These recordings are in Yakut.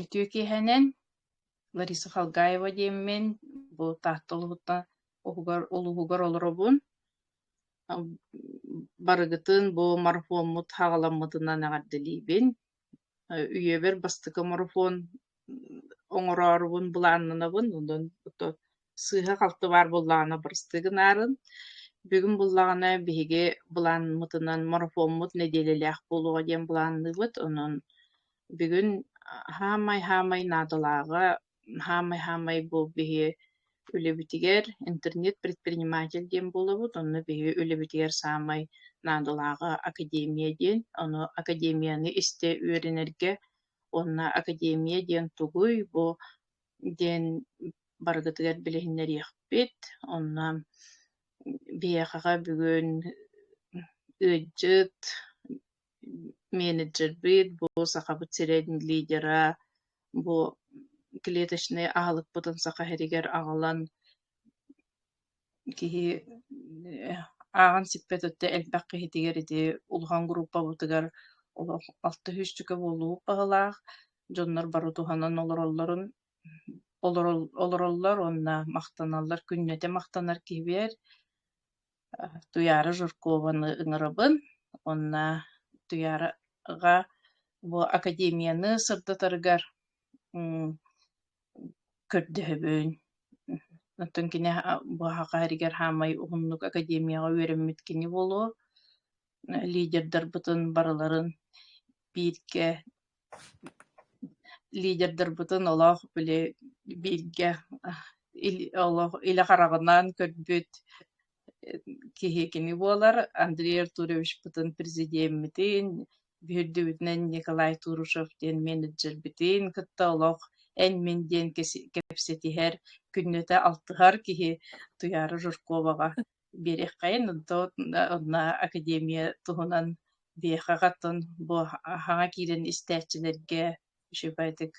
Үтүө киэһэнэн Лариса Халгаева диэммин бу Таатта улууһуттан уһугар улууһугар олоробун. Барыгытын бу марафоммут хаҕаламмытынан эҕэрдэлиибин. үйэбэр бастакы марафон оҥороорубун былааннанабын онон ото сыыһа-халты баар буоллаҕына барыстыы гынарын бүгүн буоллаҕына биһиги былаанмытынан марафоммут нэдиэлэлээх буолуоҕа диэн былаанныыбыт онон бүгүн хаамай-хаамай наадалааҕа хаамай-хаамай бу биһи үлэбитигэр интернет-предприниматель диэн буолабыт, онно биһи үлэбитигэр саамай наадалааҕа академия диэн, ону академияны истэ үөрэнэргэ уонна академия диэн тугуй, бу диэн барыгытыгар билиһиннэриэхпит. Онно биһиэхэҕэ бүгүн ыалдьыт, менеджербыт, бу Сахабыт сирин лидера, бу клеточнай аһылыкпытын Саха сиригэр аҕалан киһи ааҕан сиппэт өттө элбэх киһитигэр ити улахан группабытыгар олох алта сүүсчүкэ буолуох баһылаах дьоннор бары туһанан олороллорун олороллор уонна махтаналлар күннэтэ махтанар киһибэр Туйаара Жиркованы ыҥырабын уонна Туйаараҕа бу академияны сырдатарыгар көрдөһөбүн. Оттон кини бу аһаҕа иһэригэр хаамай уһуннук академияҕа үөрэммит кини буолуо. Лидердарбытын барыларын бииргэ Лидердарбытын олох били бииргэ олох илэ хараҕынан көрбүт киһи кини буолар. Андрей Артуровичпытын президеммитин, биһирдибитинэн Николай Турушев диэн менеджербитин кытта олох эн-мин диэн кэпсэтиһэр, күннэтэ алтыһар киһи Туйаара Жирковаҕа биэриэххэйин онно академия туһунан биһиэхэ хатан бу хаҥа киирэн истээччилэргэ үчүгэйдик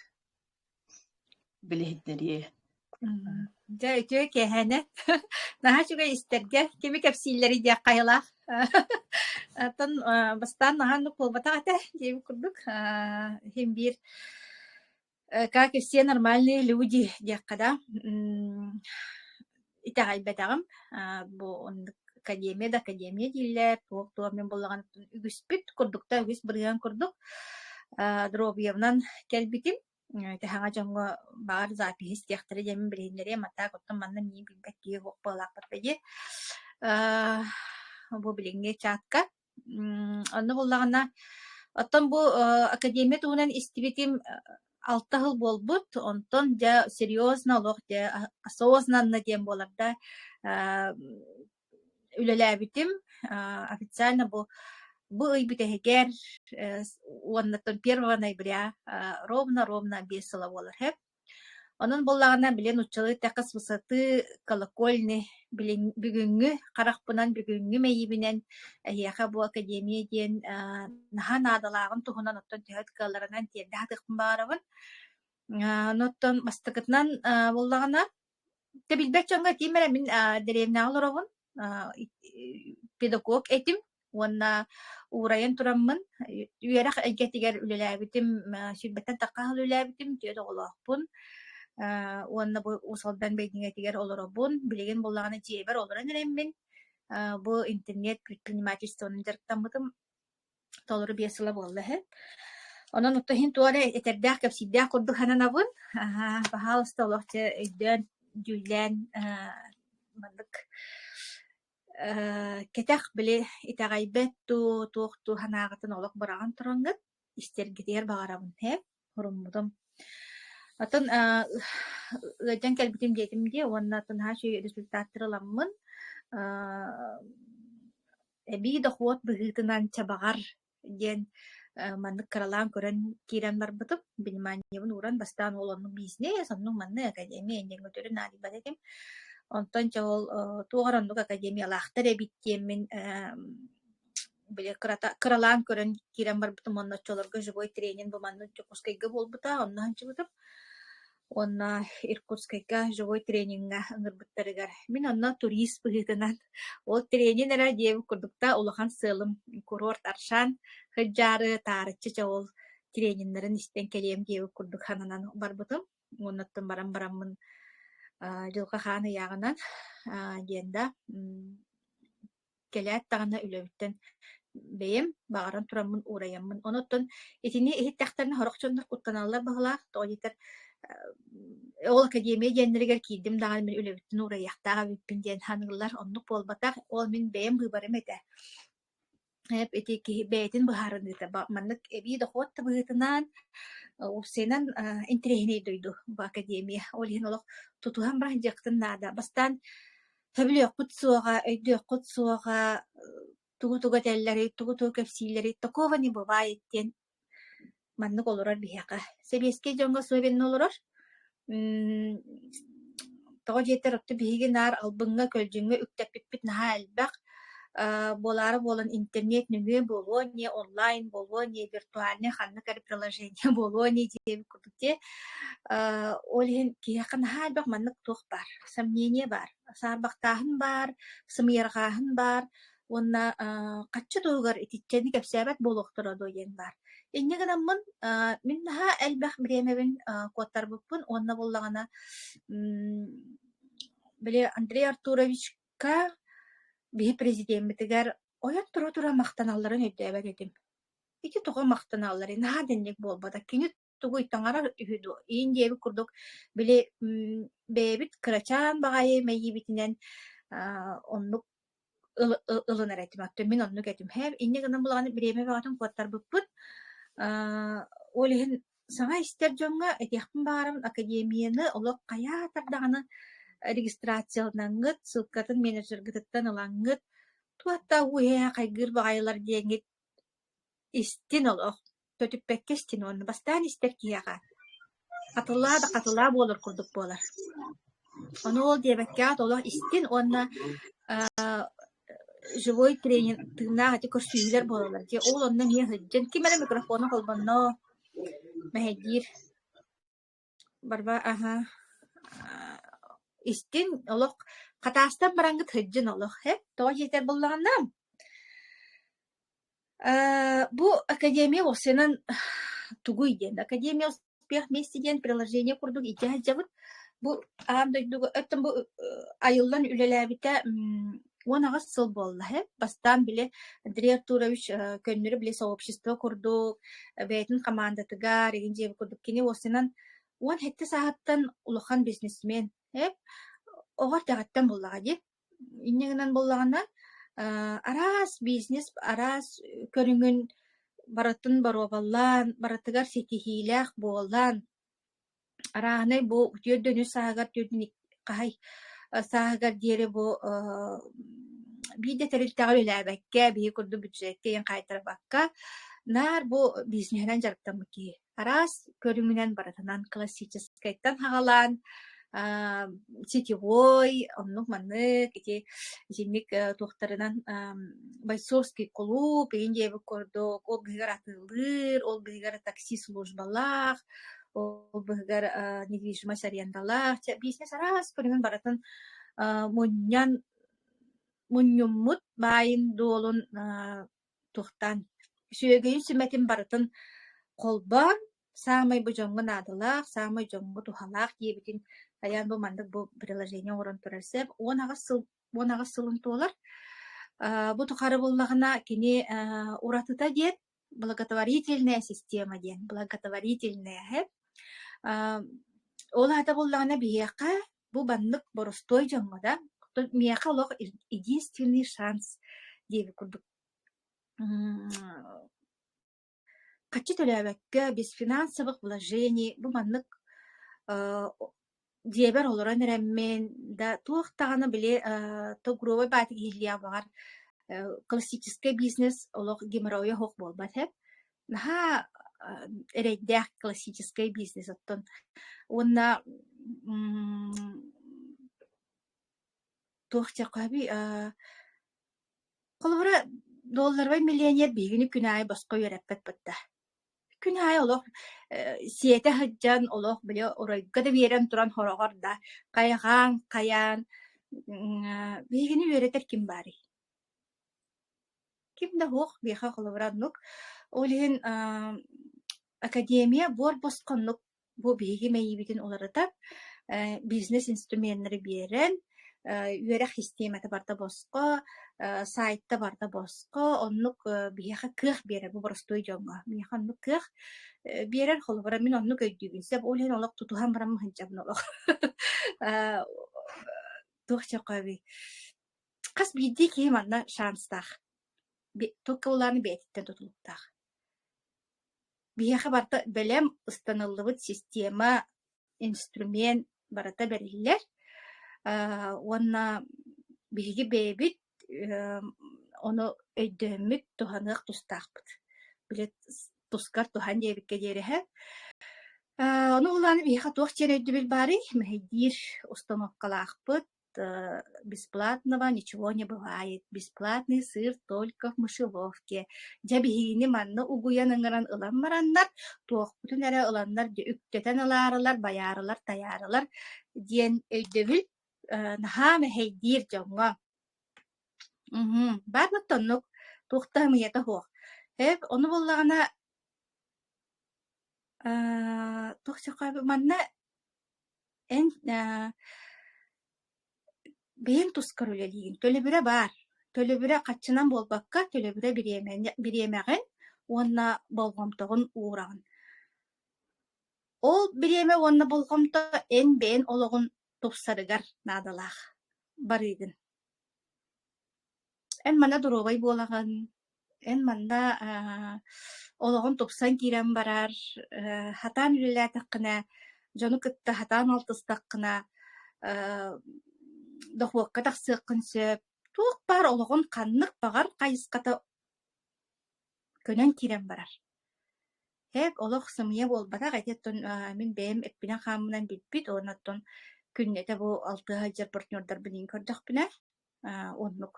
билиһиннэриэ дьэ үтүө кэһэнэ наһаа үчүгэй истэргэ кими кэпсииллэри диэх хайалаах оттон бастаан наһаа куолбатах этэ диэбит курдук иһин биир Э, как и все нормальные люди, диэххэ да, м, итэҕэйбэтэҕим. А, бу оннук академия да академия дииллэр, туох-туох мин буллаҕыттан үгүспүт курдук да үгүс бырыһыан курдук а, дробиевнан кэлбитим. Э, Тэһэҥэ дьоҥҥо баҕар запись истиэхтэрэ диэмин билиһиннэриэм, а так оттон манна миин билбэт киһи суох буолаахпар бэдиэ. А, бу билиҥҥи чатка Онно буоллаҕына, оттон бу э, академия туһунан истибитим э, алта сыл буолбут, онтон дьэ серьезно олох дьэ осознанно диэн буолар да э, үлэлээбитим официально бу бу ый бүтэһигэр уоннаттан первого ноября ровно-ровно биэс сыла буолар Онон буоллаҕына, били нууччалыы «тэкыс высоты», «колокольни» билиҥ бүгүҥҥү харахпынан, бүгүҥҥү мэйиибинэн эһиэхэ бу академия диэн аа наһаа наадалааҕын туһунан оттон төһө кыалларынан тиэрдэ сатыахпын баҕарабын. Аа, оттон бастакытынан аа буоллаҕына Дьэ билбэт дьоҥҥо этиим эрэ мин аа, деревняҕа олороҕун, аа, педагог этим уонна уурайан тураммын үөрэх эйгэтигэр үлэлээбитим, сүүрбэттэн таккаһал үлэлээбитим, түөрт оҕолоохпун. Аа, уонна бу Уус Алдан бэйдиҥэтигэр олоробун. Билигин буоллаҕына дьиэбэр олорон эрэммин, аа, бу интернет предпринимательствонан дьарыктаммытым. толору биэс сыла буолла иһин. Онон ото иһин туох эрэ этэрдээх, кэпсиирдээх курдук сананабын. Аһаа, пожалуйста, олох дьэ өйдөөн, дьүүллээн аһаа маннык аһаа кэтэх били итэҕэйбэт дуу, туох дуу санааҕытын олох быраҕан тураҥҥыт, истэргитигэр баҕарабын ээ. Хоруммутум. Атын аа ыалдьан кэлбитим диэтим дии уонна наһаа үчүгэй результаттары ыламмын аа эбии дохуот быһыытынан чабаҕар диэн э, маннык кыралаан көрөн киирэн барбытым. Биниманиябын ууран бастаан ол оннук бизнес, оннук маннык академия иннигин өтөрү наадыйбат этим. Онтон чэ ол э, туох эрэ оннук академиялаахтар эбит диэммин эм, били кырата кыралаан көрөн киирэн барбытым уонна оччолорго живой тренин бу манна Дьокуускайга буолбута онно сылдьыбытым уонна Иркутскайга живой трениҥҥа ыҥырбыттарыгар мин онно турист быһыытынан ол тренин эрэ диэбит курдук да улахан сыалым курорт Аршан сылдьаары таарыччы чэ ол трениннэрин истэн кэлиэм диэбит курдук хананан барбытым уонна оттон баран бараммын дьылҕа хаан ыйааҕынан диэн да кэлээт даҕаны үлэбиттэн бэйэм баҕаран тураммын уурайаммын. Онуттан итини иһиттэхтэринэ сорох дьоннор куттаналлар баҕалаах, тоҕо диэтэр ол академия диэннэригэр киирдим даҕаны мин үлэбиттэн уурайыахтаах эбиппин диэн саныыллар. Оннук буолбатах. Ол мин бэйэм быыбарым этэ. ити киһи бэйэтин быһаарыныыта маннык эбии дохуот табыһытынан уопсайынан интэриэһинэй дойду бу академия ол иһин олох тутуһан баран дьыахтын наада бастаан Сөбүлүөхпүт суоҕа, өйдүөххүт суоҕа, тугу-тугу этэллэрий, тугу-тугу кэпсииллэрий, такого не бывает диэн маннык олорор биһиэхэ. Сэбиэскэй дьоҥҥо особенно олорор. М тоҕо диэтэр отту биһиги наар албыҥҥа, көлдьүҥҥэ үктэппиппит наһаа элбэх. Э, буолаары буолан интернет нөҥүө буолуо не онлайн буолуо не виртуальнай ханнык эрэ приложение буолуо не диэбит курдук Дьэ, э, ол иһин киһиэхэ наһаа элбэх маннык туох баар, сомнение баар, саарбахтааһын баар, сымыйарҕааһын баар уонна э, хачча туһугар итиччэни кэпсээбэт буолуохтара дуо диэн баар. Инньэ гынаммын, э, мин наһаа элбэх бириэмэбин э, куоттарбыппын уонна буоллаҕына, м, били Андрей Артуровичка биһи президеммитигэр ойон тура-тура махтаналларын өйдөөбөт этим. ити тоҕо махтаналларый, наһаа итинник буолбатах. Кини тугу таҥарар үһү дуо? иин диэбит курдук, били бэйэбит кырачаан баҕайы мэйиибитинэн аа, оннук ыл- ыл- ылынар этим. Оттон мин оннук этим. Һэ, инньэ гынан булаҕын бириэмэ бөҕөтүн куоттарбыппыт. Аа, ол иһин саҥа истэр дьоҥҥо этиэхпин баҕарабын, академияны олох хайаа тардаҕына регистрацияланыҥҥыт, ссылкатын менеджергытыттан ылаҥҥыт, туох да уу-ээ хайгыыр баҕайылар диэҥҥит Истин олох, көтүппэккэ истин уонна бастаан истэр киһиэхэ хатылаа да хатылаа буолар курдук буолар. Ону ол диэбэккэ аата олох истин уонна аа живой тренер тыыннаах ити көрсүһүүлэр буолаллар дии. Ол онно эмиэ сылдьан ким эрэ микрофону холбонно мэһэйдиир Барба аһа истин олох хатаастан бараҥҥыт сылдьын олох э тоҕо диэтэр буоллаҕына э бу академия уопсайынан тугуй диэн академия успех вместе диэн приложение курдук илдьэ сылдьабыт бу аан дойдуга оттон бу айыллан үлэлээбитэ Уон аҕыс сыл буолла иһэ. Бастаан били Андрей Артурович э, көннөрү били сообщество курдук, э, бэйэтин хамаандатыгар, игин дьиэбит курдук кини уосунан уон сэттэ сааһыттан улахан бизнесмен. Эп оҕо эрдэҕиттэн буллаҕа дии. Инньэ гынан буллаҕынан э, араас бизнес, араас көрүҥүн барытын боруобаллаан, барытыгар ситиһиилээх буолан, Арааһынай бу түөрт дөнү сааһыгар хаһай сааһыгар диэри бу аа биир да тэрилтэҕэ үлэлээбэккэ, биһиги курдук бюджетка иһин хаайтарбакка, наар бу бизнеһинэн дьарыктаммыт киһи. Араас көрүҥүнэн барытынан классическайтан хаҕалаан аа, сетевой, оннук маннык ити итинник э, туохтарынан бойцовский кулууп иһин диэбит курдук ол быһыгар атыылыыр, ол быһыгар такси службалаах, ол быһыгар э, недвижимость арендалаах, бизнес араас көрүҥүн барытын э, мунньан мунньуммут баайын дуолун Туохтан? Үсүһүгүйүн сүмэтин барытын холбоон, саамай бу дьоҥҥо наадалаах, саамай дьоҥҥо туһалаах диэбитин хайаан бу маннык бу приложение оҥорон турар сөп. Уон аҕыс сыл уон аҕыс сылын туолар. Аа, бу тухары буллаҕына кини аа, уратыта диэн благотворительная система диэн благотворительная. аа, ол аата буллаҕына биһиэхэ Бу маннык боростуой дьоҥҥо да, оттон миэхэ олох единственный шанс диэбит курдук Хаччы төлөөбөккө, без финансовых вложений, бу маннык э, дьиэбэр олорон эрэммин, да туох даҕаны били э, тогровой баатик иһиллиэх баҕар э, классическай бизнес олох геморройа оһох буолбат эб. наһаа эрэйдээх классическай бизнес оттон уонна туох дьахаби холобура долларовый миллионер биһигини күн аайы босхо үөрэппэт бытта күн аайы олох сиэтэ сылдьан олох били оройго да биэрэн туран хороҕор да хайҕаан хайаан биһигини үөрэтэр ким баарый Ким да суох биэхэ холобура оннук. Ол иһин ааа академия буор босхоннук бу биһиги мэйиибитин уларытар, э бизнес-инструменнары биэрэн, э үөрэх систиэмэтэ барыта босхо, э сайтта барыта босхо, оннук э биһиэхэ кыах биэрэр бу боростуой дьоҥҥо. Миэхэ оннук кыах э биэрэр, холобура мин оннук өйдүүбүн. Сөп ол иһин олох тутуһан баран мын сылдьабын олох. Э туох чохооби Хас биирдии киһи манна шанстаах, тугу ылаары бэйэтиттэн тутулуктаах. Биһиэхэ барыта бэлэм, ыстаныллыбыт система, инструмент барыта бэриллэр. Э, уонна биһиги бэйэбит э, ону өйдөммүт, туһаныах тустаахпыт. Били тускар туһан диэбиккэ диэри эһэ. Э, ону ылаары биһиэхэ туох диэн өйдөбүл баарый? Мэһэйдиир установкалаахпыт, то бесплатного ничего не бывает. Бесплатный сыр только в мышеловке. Дьэ биһигини манна угуйан ыҥыран ылан бараннар, туохпутун эрэ ыланнар дьэ үктэтэн ылаарылар, байаарылар, тайаарылар диэн өйдөбүл э, наһаа мэһэйдиир дьоҥҥо. Мгм. Барлык оннук. Туохтаһымыйата суох. Эк, ону буоллаҕына, аа, туох дьахха манна Эн аа бэйэҥ тускар үлэлиигин. Төлөбүрэ баар. Төлөбүрэ хаччынан буолбакка, төлөбүрэ бириэмэни бириэмэҕин уонна болҕомтоҕун уураҕын. Ол бириэмэ уонна болҕомто эн бэйэн олоҕун тупсарыгар наадалаах. Барыыгын. Эн манна доруобай буолаҕын, эн манна аа олоҕун тупсан киирэн барар, э, сатаан үлэлээтэххинэ, дьону кытта сатаан алтыстаххына, э, дохуокка тахсыаххын сөп. Туох баар олоҕун ханнык баҕар хайысхата көнөн киирэн барар. Эк, олох сымыйа буолбатах, ити оттон а, мин бэйэм эппинэн-хааммынан билбит, уонна оттон күннэтэ бу алтыһа сылдьар партнердарбын иин көрдөхпүнэ, Оннук.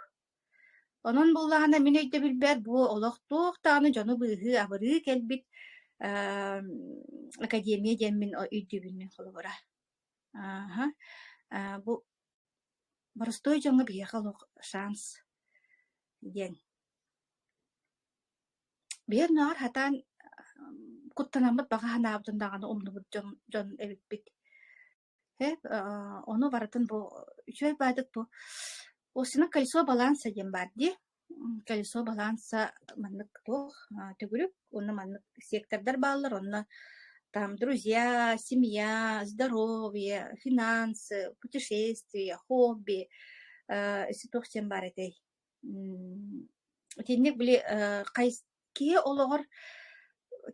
Онон буоллаҕына мин өйдөбүлбэр бу олох туох даҕаны дьону быыһыы абырыы кэлбит аа академия диэммин өйдүүбүннүү холобура. Аһа, аа бу боростуой дьоҥҥо биһиэхэ олох шанс диэн. Биһиги оннооҕор хатаан куттанаммыт баҕа санаабытын даҕаны умнубут дьон дьон эбиппит. Э, аа, ону барытын бу үчүгэй баайдык дуо? Устинан колесо баланса диэн баар дии. М, Колесо баланса маннык туох а, төгүрүк уонна маннык сектордар бааллар онно там друзья, семья, здоровье, финансы, путешествия, хобби, э, isi туох диэн баар этэй? М, Итинник били э, кайс киһи олоҕор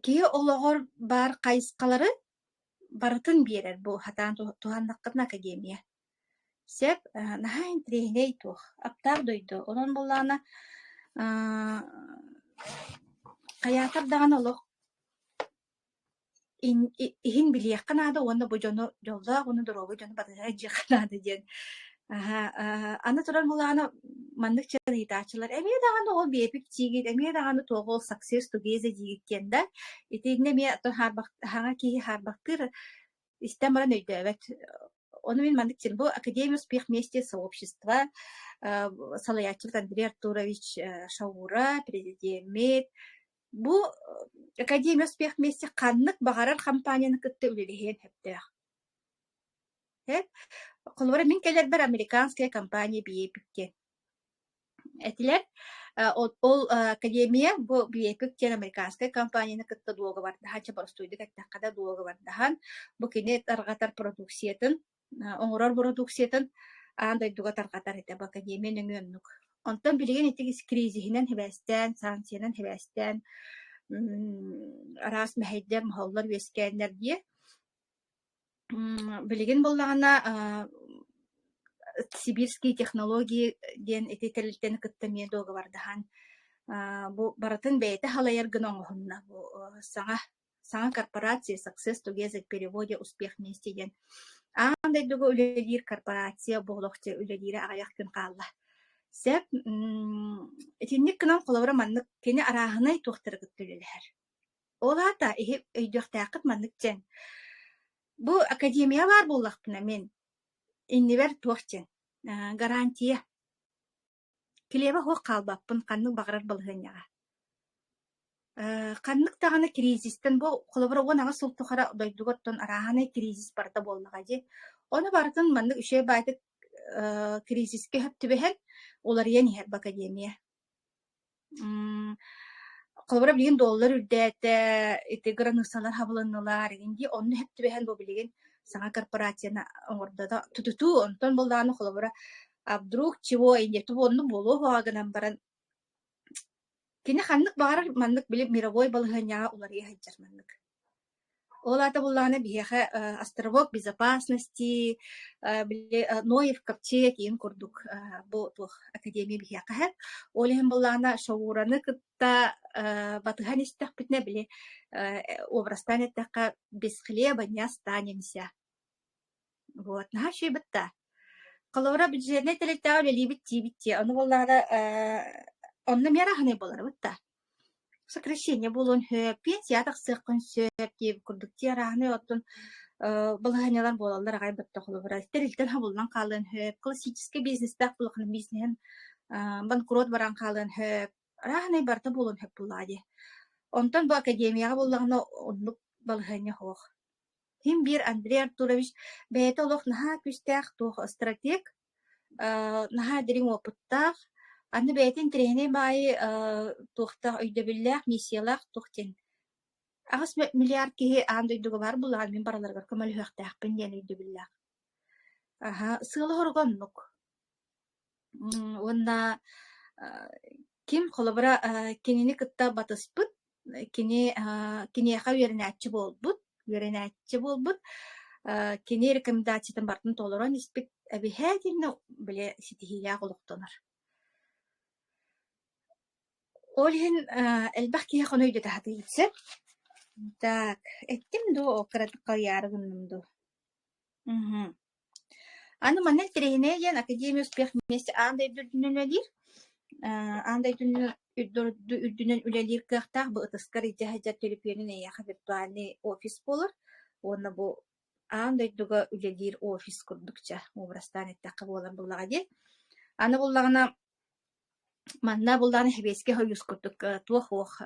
киһи олоҕор баар хайысхалары Барытын биэрэр бу сатаан туһаннаххытына академия. Сөп, наһаа интэриэһинэй туох, аптаах дойду. Онон буоллаҕына аа хайаатар даҕаны олох иһин билиэххэ наада уонна бу дьону дьоллоох уонна доруобай дьону батыһа илдьиэххэ наада диэн Аһа, аһа. Аны туран Мулаана маннык чаритааччылар эмиэ даҕаны ол биэпик тиигит, эмиэ даҕаны туоҕу success together диигит диэн да, итиигинэ эмиэ то хаарбах хаҥа киһи хаарбахтыыр истэн баран өйдөөбөт. Ону мин маннык чин бу Академия успех вместе сообщества э, салайааччыбыт Андрей Артурович э, Шаура, президиэммит бу э, Академия успех вместе ханнык баҕарар хампаанньаны кытта үлэлэһиэн сөптөөх. Холобура, мин кэлэрбэр американская компания BAPIC диэн этилэр. Э, ол ол, э, академия бу BAPIC диэн американскай компанияны кытта дуогабардаһан, чебурастуйдук эттэххэ да дуогабардаһан, бу кини тарҕатар продукциятын, э, оҥорор продукциятын аан дойдуга тарҕатар этэ. Бу академия нөҥүө оннук. Онтон билигин ити кризиһинэн хибээстээн, санкциянан хибээстээн м, араас мэһэйдэр, моһоллор, үөскээннэр диэ М, Билигин буоллаҕына а, сибирские технологии диэн ити тэрилтэни кытта эмиэ дуогабардаһан а, бу барытын бэйэтэ халайар гына оҥоһунна. Бу э, саҥа саҥа корпорация Success Together в переводе «Успех вместе» диэн аан дойдуга үлэлиир корпорация буолуох дьэ үлэлиирэ аҕыйах күн хаалла. Сөп. м, Итинник гынан холобура маннык кини арааһынай туохтары кытта үлэлэһэр. Ол аата иһи өйдүөхтээххит маннык дьаҥ. Бу академия баар буоллахпына мин, иннибэр туох дьиҥ, аа, гарантия. Килиэбэ суох хаалбаппын ханнык баҕарар балаһыанньаҕа. Э, ханнык даҕаны кризистэн бу холобура уон аҕыс сыл тухары дойдуга оттон арааһынай кризис барда буоллаҕа дии. Ону барытын маннык үчүгэй баайдык э, кризискэ сөп түбэһэн, уларыйан иһэр в академия. М, холобура билигин доллар үрдээтэ, ити границалар хабылыннылар, инди онно иһит түбэһэн бу билигин саҥа корпорацияны оҥордо да тутутуу, онтон былааны холобура а вдруг чего инде тугу оннук буолуо буолуоҕа гынан баран кини ханнык баҕарар маннык били мировой балаһыанньаҕа уларыйа сылдьар маннык. Ол аата буоллаҕына биһиэхэ э, островок безопасности, э, били э, Ноев копчек иин курдук э, бу туох академия биһиэхэ иһэр. Ол иһин буоллаҕына Шоураны кытта э, батыһан истэхпитинэ били э, образтан эттэххэ бесхлебанья станемся Вот, наһаа үчүгэйбит да. Холобура, бюджетнай тэрилтэҕэ үлэлиибит диибит дии. Ону буоллаҕына, э, онно эмиэ араһынай буоларбыт да. Сокращение буолуон сөп, пенсия тахсыаххын сөп диир курдук дии араһынай. Оттон э, балаһыанньалар буолаллар аҕай бөттөх холобура. Тэрилтэнэн хабыллан хаалыан сөп, классическай бизнестээх буоллаххына бизнеһин э, банкрот баран хаалыан сөп. Араһынай барыта буолуон сөп буоллаҕа дии. Онтон бу академияҕа буоллаҕына, оннук балаһыанньа суох. Иһим биир Андрей Артурович бэйэтэ олох наһаа күүстээх туох стратег, аа наһаа дириҥ уопуттаах, аны бэйэтин тренинэй баайы аа туохтаах өйдөбүллээх, миссиялаах туох диэн аҕыс мэ миллиард киһи аан дойдуга баар буоллаҕына мин барыларыгар көмөлөһүөхтээхпин диэн өйдөбүллээх. Аһа, сыала-соруга оннук. Уонна ким холобура кинини кытта батыспыт, кини киниэхэ үөрэнээччи буолбут, үөрэнээччи буолбут, кини рекомендациятын барытын толорон испит эбиһээт иннэ били ситиһиилээх олохтонор. Ол иһин элбэх киһи хоно өйдөтө сатыыр сөп. Так, эттим дуу, кыратык харыйаары гынным дуу? Мм. Аны манна интэриэһинэй диэн Академия успех вместе аан дойду үрдүнэн үлэлиир. Э, аан дойду үрдүнэн үрдү үрдүнэн үлэлиир кыахтаах бу ытыскар илдьэ сылдьар төлөпүөнүн эйиэхэ виртуальный офис буолар уонна бу аан дойдуга үлэлиир офис курдук ча образтаан эттэххэ буолар буоллаҕа дии. Аны буллаҕына манна буллаҕына сэбиэскэй хойуус курдук э, туох уох э,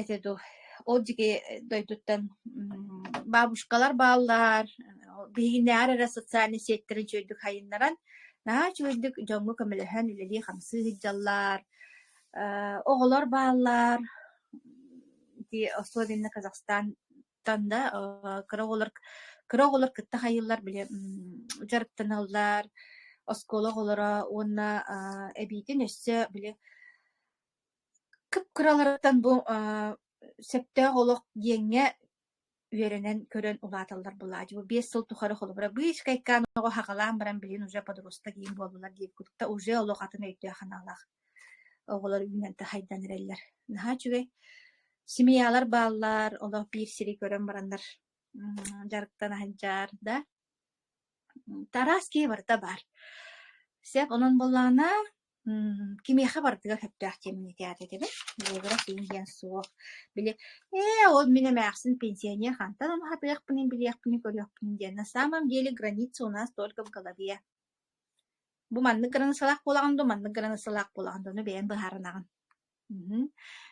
этэ дуу ол дьиги дойдуттан бабушкалар бааллар биһиги наар эрэ социальнай сиэттэрин үчүгэйдик сайыннаран наһаа үчүгэйдик дьоҥҥо көмөлөһөн үлэлии-хамсыы сылдьаллар оҕолор бааллар особенно казахстантан да кыра оҕолор кыра оҕолор кытта хайыыллар били дьарыктаналлар оскуола оҕолоро уонна эбиитин өссө били кып-кыраларыттан бу э, сөптөөх олох диэҥҥэ үөрэнэн көрөн улааталлар былаадьыйа. Биэс сыл тухары холобура Быычкайкаан оҕо хаҕалаан баран билин уже подросток иин буоллулар диир курдук уже олох атын өйдөө-санаалаах оҕолор үүнэн тахайдан эрэллэр. Наһаа үчүгэй. Семьялар бааллар, олох биир сири көрөн бараннар дьарыктан аһынчаар да. Тарас кии барыта баар. Сеп онон боллаана М, кимиэхэ барытыгар сөптөөх тиэмэни тээтэтибит. Буолуурас иҥ диэн суох. Били "Ээ, ол мин эмээхсин пенсионер хантан умуһатыахпыный, билиэхпинин-көрүөхпүнүй" диэн. На самом деле граница у нас только в голове. Бу маннык границалаах буолаҕын дуо, маннык границалаах буолаҕын дуо, ону бэйэҥ быһаарынаҕын. Мгм.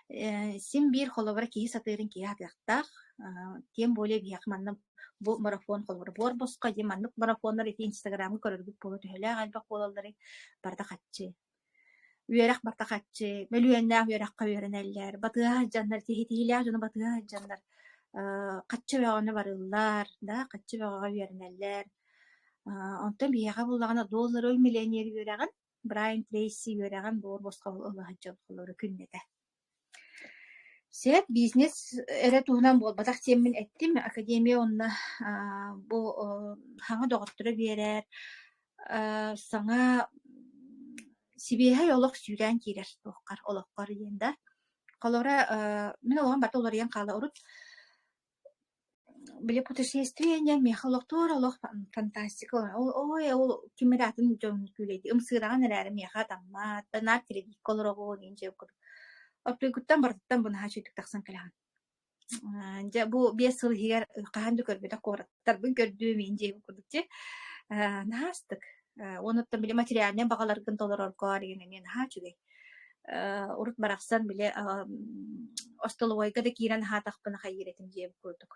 Э, син биир холобура киһи сатыырын киһи сатыахтаах. Ааа, тем более биһиэхэ манна бу марафон холобура буор босхо дии маннык марафоннар ити инстаграмҥа көрөргүт буолуо төһөлөөх элбэх буолалларый, барыта хаччы. Үөрэх барыта хаччы, мөлүйүөннээх үөрэххэ үөрэнэллэр, батыһа сылдьаннар, сиһитиилээх дьону батыһа сылдьаннар, аа, хаччы бөҕөнү барыллар, да, хаччы бөҕөҕө үөрэнэллэр. Аа, онтон биһиэхэ буоллаҕына доллары миллионер үөрэҕин Брайан Трейси үөрэҕин буор босхоһун ылыһан дьон холоро күннэтэ. Сөп, бизнес эрэ туһунан буолбатах диэммин эттим. Академия уонна аа бу оо саҥа доҕотторо биэрэр, аа саҥа сибиэһэй олох сүүрээн киирэр туоххар, олоххор диэн да. Холоро аа мин олоҕум барыта уларыйан хаала урут Били путешествиение миэхэ олохтуур олох фантастика ой ол ким эрэ атын дьон күүлэйдии ымсыыраҕын эрээри миэхэ атаммат наар телевизорга олороҕун иһин дьэ оппуйгуттан барытыттан бынаһа үчүгдүк тахсан кэлэҕин аа дьэ бу биэс сыл иһигэр хаһан да көрбөтөх куораттарбын көрдүм иһин дьиэбин курдук дьэ аа наһаастык Э, уонуттан били материальнай баҕаларгын толорорго деген эмиэ наһаа үчүгэй. Э, урут барахсан били остолобуойга да киирэн аһаатахпына хайыыр этим диэбит курдук.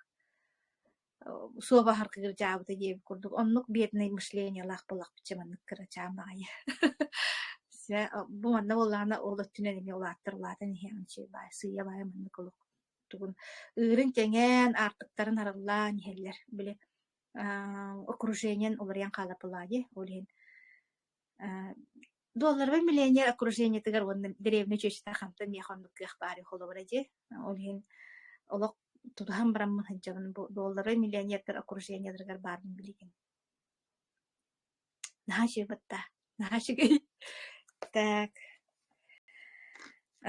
Суоба харкыгыр дьаабыта диэбит курдук. Оннук бедный мышлениялаах булахпычча маннык кырачаам аҕайы. Сэ бу манна буоллаҕына ол өттүнэн эмиэ улааттар улаатан иһиэҕин сиэ баай сыыйа баай маннык олох тугун ыырын кэҥээн аартыктарын арыллаан иһэллэр. Били Ааа окружениен уларыйан хаалаппылаани, ол иһин аа Долларовый миллионер окружениетыгар уонна дэриэбинэ чүөчэтэ хантан миэхэ оннук кыах баарый холобура дии. Ол иһин олох тутуһан бараммын сылдьабын бу долларовый миллионердар окружениеларыгар баарын билигин. Наһаа үчүгэй бытта, наһаа үчүгэй. Так,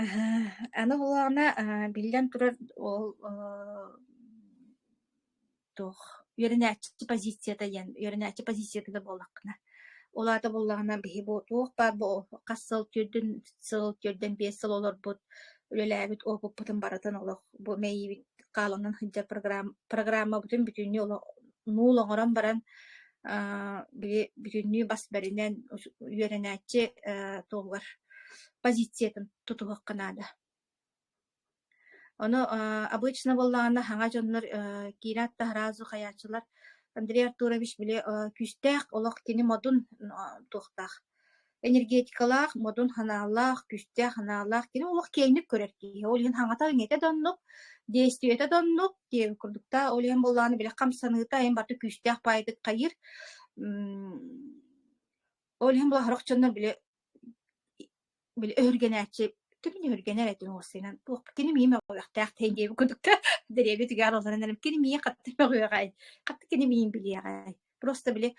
аһаа, аны холлооно, э, биллэн турар, ол э, туох үөрэнээччи позицията диэн, үөрэнээччи позицията да буоллаххына, ол аата буоллаҕына биһи бу туох баар бу хас сыл төрдүн сыл төрдөн биэс сыл олорбут үлэлээбит опыппытын барытын олох бу мэйиибит хааланан сылдьар программабытын бүтүннүү олох нуул оҥорон баран аа били бүтүннүү бас бэринэн үөрэнээччи ээ туһугар позициятын тутуһуохха наада. Ону аа обычно буоллаҕына хаҥа дьоннор ээ киирэн аттаһара уһайааччылар Андрей Артурович били күүстээх олох кини модун туохтаах энергетикалаах, модун ханааллаах, күүстээх анаалаах, кини олох киэҥник көрөр киһи. Ол иһин хаҥата-иҥэтэ да оннук, действиета да оннук. Диэн курдуктаа. Ол иһин буоллаҕына билэх хамсаныыта айан барыта күүстээх паайдык хайыр. Ол иһин була сорох дьоннор били били өһүргэнээччи түмүн өһүргэнэр этин уорсайынан туох кини миимэ оҕуйахтаах тей диэби курдук да дэриэбит үгэ аралларынан кини миин хатты мөҕүөҕэй хатты кини миин билиэҕэй Просто били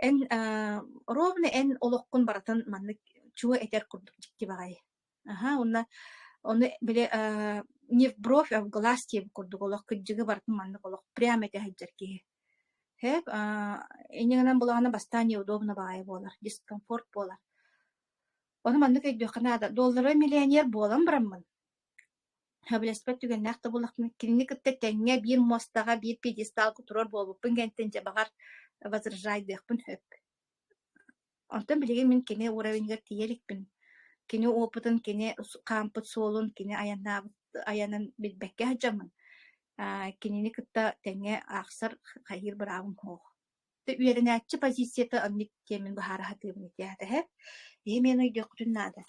эн э, ровно эн олоххун барытын маннык чуо этэр курдук дьикти баҕайы. Аха, уонна ону били э, не в бровь, а в глаз диэн курдук олох кыддьыгы барытын маннык олох прямо этэ сылдьар киһи. Хэп, а, иннигинэн булаҕына бастаан неудобно баҕайы буолар, дискомфорт буолар. Ону маннык өйдүөххэ наада. Доллары миллионер буолан бараммын, Сөбүлэспэт түгэннээх да буоллахпына, кинини кытта тэҥҥэ биир муостаҕа, биир пьедесталга туруор буолбуппун кэнниттэн дьэ баҕар возрождайдыахпын сөп. Онтон билигин мин кини уровеньыгар тиийэ иликпин. Кини опытын, кини су- хаампыт суолун, кини айаннаабыт айанын билбэккэ сылдьаммын, аа, кинини кытта тэҥҥэ аахсар хайыыр быраабым суох. Ты үөрэнээччи позицията оннук диэммин быһаара сатыыбын этиэхэ тэһэ. Иһи мен өйдүөххүтүн наада.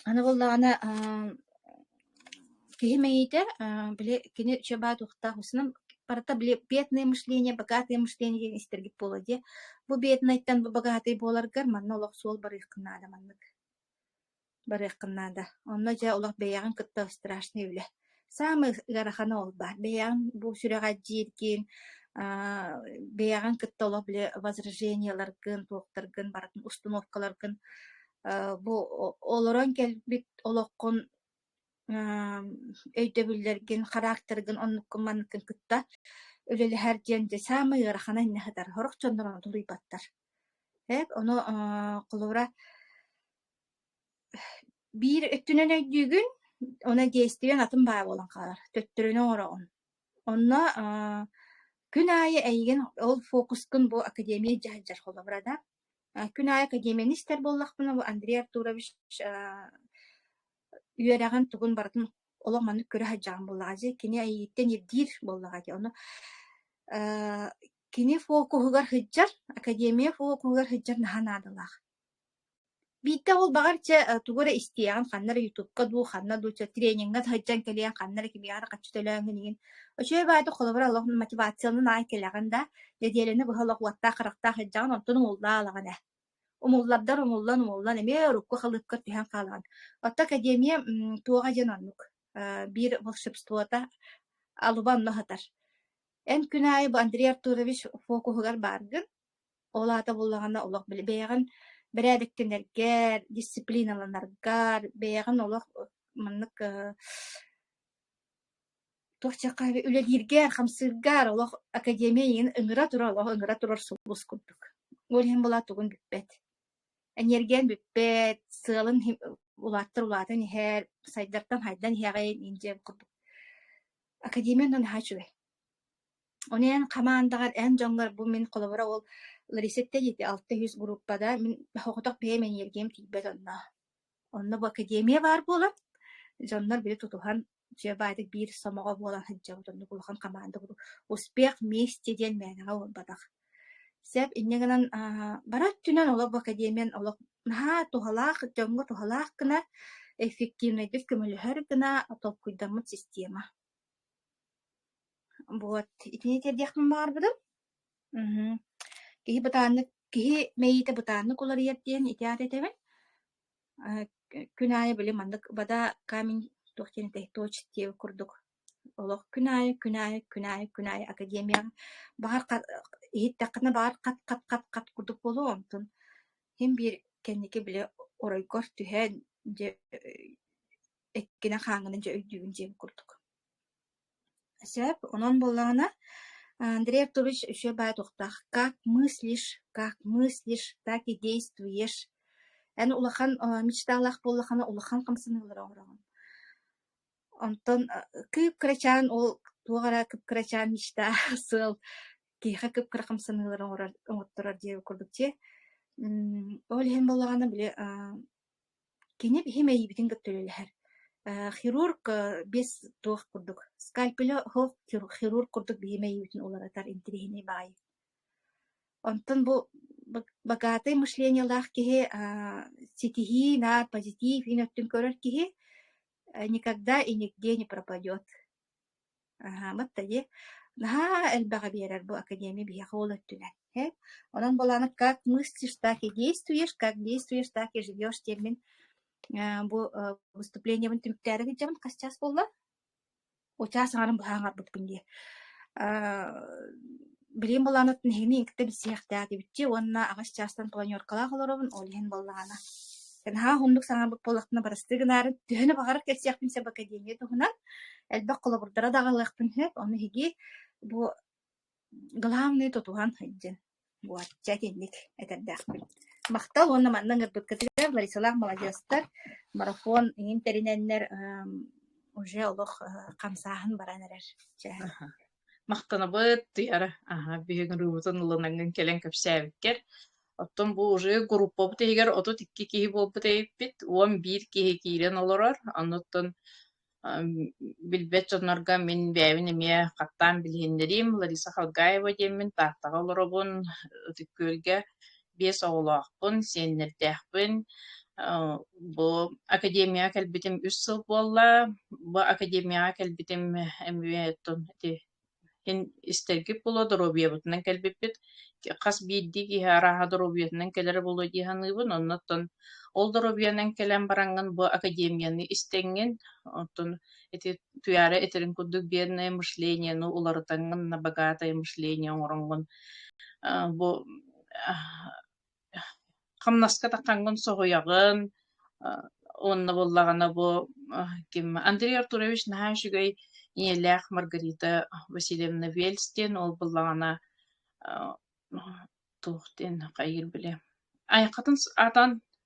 Аны буоллаҕына ааа киһи мэйиитэ ааа били кини чэбээ туохтаах усунан барыта били бедное мышление богатое мышление диэн истэргит буолуо дии. Бу беднайтан бу богатый буоларгар манна олох суол барыаххын наада маннык. Барыаххын наада. Онно дьэ олох бэйэҕин кытта страшный үлэ. Саамай ыарахана ол баар. Бэйэҕин бу сүрэҕэлдьииргин, бэйэҕин кытта олох били возражениеларгын, туохтаргын барытын установкаларгын бу олорон кэлбит олоххун өйдөбүллэргин, характергын оннуккун-манныккын кытта үлэлэһэр диэн дьэ саамай ыарахана иннэ сытар. Сорох дьоннор ону тулуйбаттар. Эп, ону холобура Биир өттүнэн өйдүүгүн, уонна действиеҥ атын баҕа буолан хаалар. Төттөрүнү оҥороҕун. Онно аа күн аайы эйигин ол фокускун бу академия дьаһалдьар холобура да. Э, күн аайы академияны истэр буоллахпына, бу Андрей Артурович аа үөрэҕин тугун барытын олох маннык көрө сылдьаҕын буоллаҕа дии. Кини эйиттэн ирдиир буоллаҕа дии. Ону аа кини фокуһугар сылдьар, академия фокуһугар сылдьар наһаа наадалаах. Биирдэ ол баҕар чэ э, тугу эрэ истиэҕин, ханна эрэ ютубка дуу, ханна дуу чэ трениҥҥа сылдьан кэлиэн, ханна эрэ кимиэхэ эрэ хаччы төлөөҥҥүн игин. Очеве баайда холобура олох мотивацияларын аайы кэлэҕин да, нэдиэлэни быһа олох уоттаах-харахтаах илдьэҕин, онтон умуллаа ылаҕын ээ. Умуллардар умуллан-умуллан эмиэ урукку-халыыпкар түһэн хаалаҕын. Оттон академия м, туоҕа диэн оннук. Э, биир волшебствота алуба онно сытар. Эн күн аайы бу Андрей Артурович фокуһугар бааргын. Ол аата буллаҕына олох били бэйэҕин бэрээдэктэнэргэр, дисциплиналанаргар, бэйэҕин олох маннык э, туох диэххэ үлэлииргэр, хамсыыргар олох академия иҥин ыҥыра турар, олох ыҥыра турар сулбус курдук. Ол иһин була тугун бүппэт. Энергиэн бүппэт, сыалын улааттар улаатан иһэр, сайдартан хайдан иһэҕин, индиэн курдук. Академия нан хаачугай. Оны эн хамаандаҕар эн дьоҥҥор бу мин холобура ол Ларисетта диэти алта сүүс группада мин соҕотох бэйэм энергиям тиийбэт онно. Онно бу академия баар буолан, дьоннор били тутуһан дьэ баайдык биир сомоҕо буолан сылдьабыт оннук улахан хамаанда курдук «Успех вместе» диэн мээнэҕэ буолбатах. Сөп инньэ гынан аа бары өттүнэн олох бу академиян олох наһаа туһалаах, дьоҥҥо туһалаах гына, эффективнэйдик көмөлөһөр гына толкуйдаммыт система. Вот, итини тиэрдиэхпин баҕарбытым. Мгм. Киһи бытааннык, киһи мэйиитэ бытааннык уларыйар диэн итиэҕэ этэбин. Э, к- күн аайы били маннык бада камень туох диэн этэй точ диэ курдук олох күн аайы, күн аайы, күн аайы, күн аайы академияҕа баҕар ха- иһиттэххинэ баҕар хат хат хат хат курдук буолуо онтун иһин биир кэнники били оройгор түһэн дьэ э, эккинэ хааҥҥына дьэ өйдүүбүн диэн курдук Сөп, онон буоллаҕына, Андрей Артурович үчүгэй баҕайы туохтаах «Как мыслишь, как мыслишь, так и действуешь» эн улахан мечталаах буоллаххына улахан хамсаныылары оҥороҕун. Онтон кып-кырачаан ол туох эрэ кып-кырачаан мечта, сыал киһиэхэ кып-кыра хамсаныылары оҥорор оҥотторор диэн курдук дии. Ол иһин буоллаҕына били Кини биһи мэйиибитин кытта үлэлэһэр. Э, хирург биэс туох курдук скальпеля оһох хирург курдук биһи мэйиибитин уларытар интириэһинэй баҕайы. Онтон бу богатый мышлениелаах киһи ситиһии наар позитив иҥ өттүн көрөр киһи никогда и нигде не пропадет. Аһаабыт да дии. Наһаа элбэҕи биэрэр бу академия биһиэхэ ол өттүнэн. Ээ, онон буолааны «Как мыслишь, так и действуешь, как действуешь, так и живешь» диэммин э бу э выступлениебын түмүктээри илдьэбин хасчаас буолла. Учаас аҥарын быһа аҥарбыппын дии. Э билигин былаан оттон эһигини кытта билсиһиэхтээх диэбиччи уонна аҕыс чаастан планеркалаах олоробун ол иһин буоллаҕына Таньаһа уһуннук саҥарбыт буоллахпына барыстыы гынаарым төһөнү баҕарар кэпсиэхпин сөп академия туһунан элбэх холобурдара даҕалыахпын сөп ону иһиги бу главный тутуһан сылдьын буочча итинник этэрдээхпин махтал уонна манна ыҥырбыккытыгар Ларисалаах маладьыастар марафон иҥин тэринэннэр уже олох хамсааһын баран эрэр махтанабыт тыйара аха биһигин рыбутун ылынаҥҥын кэлэн кэпсээбиккэр оттон бу уже группабыт иһигэр отут икки киһи буолбут эбиппит уон биир киһи киирэн олорор оннуттан билбэт дьоннорго мин бэйэбин эмиэ хаттаан билиһиннэриим Лариса Халгаева диэммин Тааттаҕа олоробун Ытык Күөлгэ биэс оҕолоохпун, сиэннэрдээхпин. Бу академияҕа кэлбитим үс сыл буолла. Бу академияҕа кэлбитим эмиэ иһин истэргит буолуо, доруобуйабытынан кэлбиппит. Хас биирдии киһи арааһа доруобуйатынан кэлэрэ буолуо дии саныыбын. Оннуттан ол доруобуйанан кэлэн бараҥҥын бу академияны истэҥҥин. Оттон ити утуйаары итирин курдук бедное мышление ну уларытаҥҥын набогатое мышление оҥороҥҥун бу хамнаска таххаҥҥын соһуйаҕын уонна буоллаҕына бу ким Андрей Артурович наһаа үчүгэй ийэлээх Маргарита Васильевна Вельстин ол буллаҕана туох диэн хайгыр билэ айхатын аатан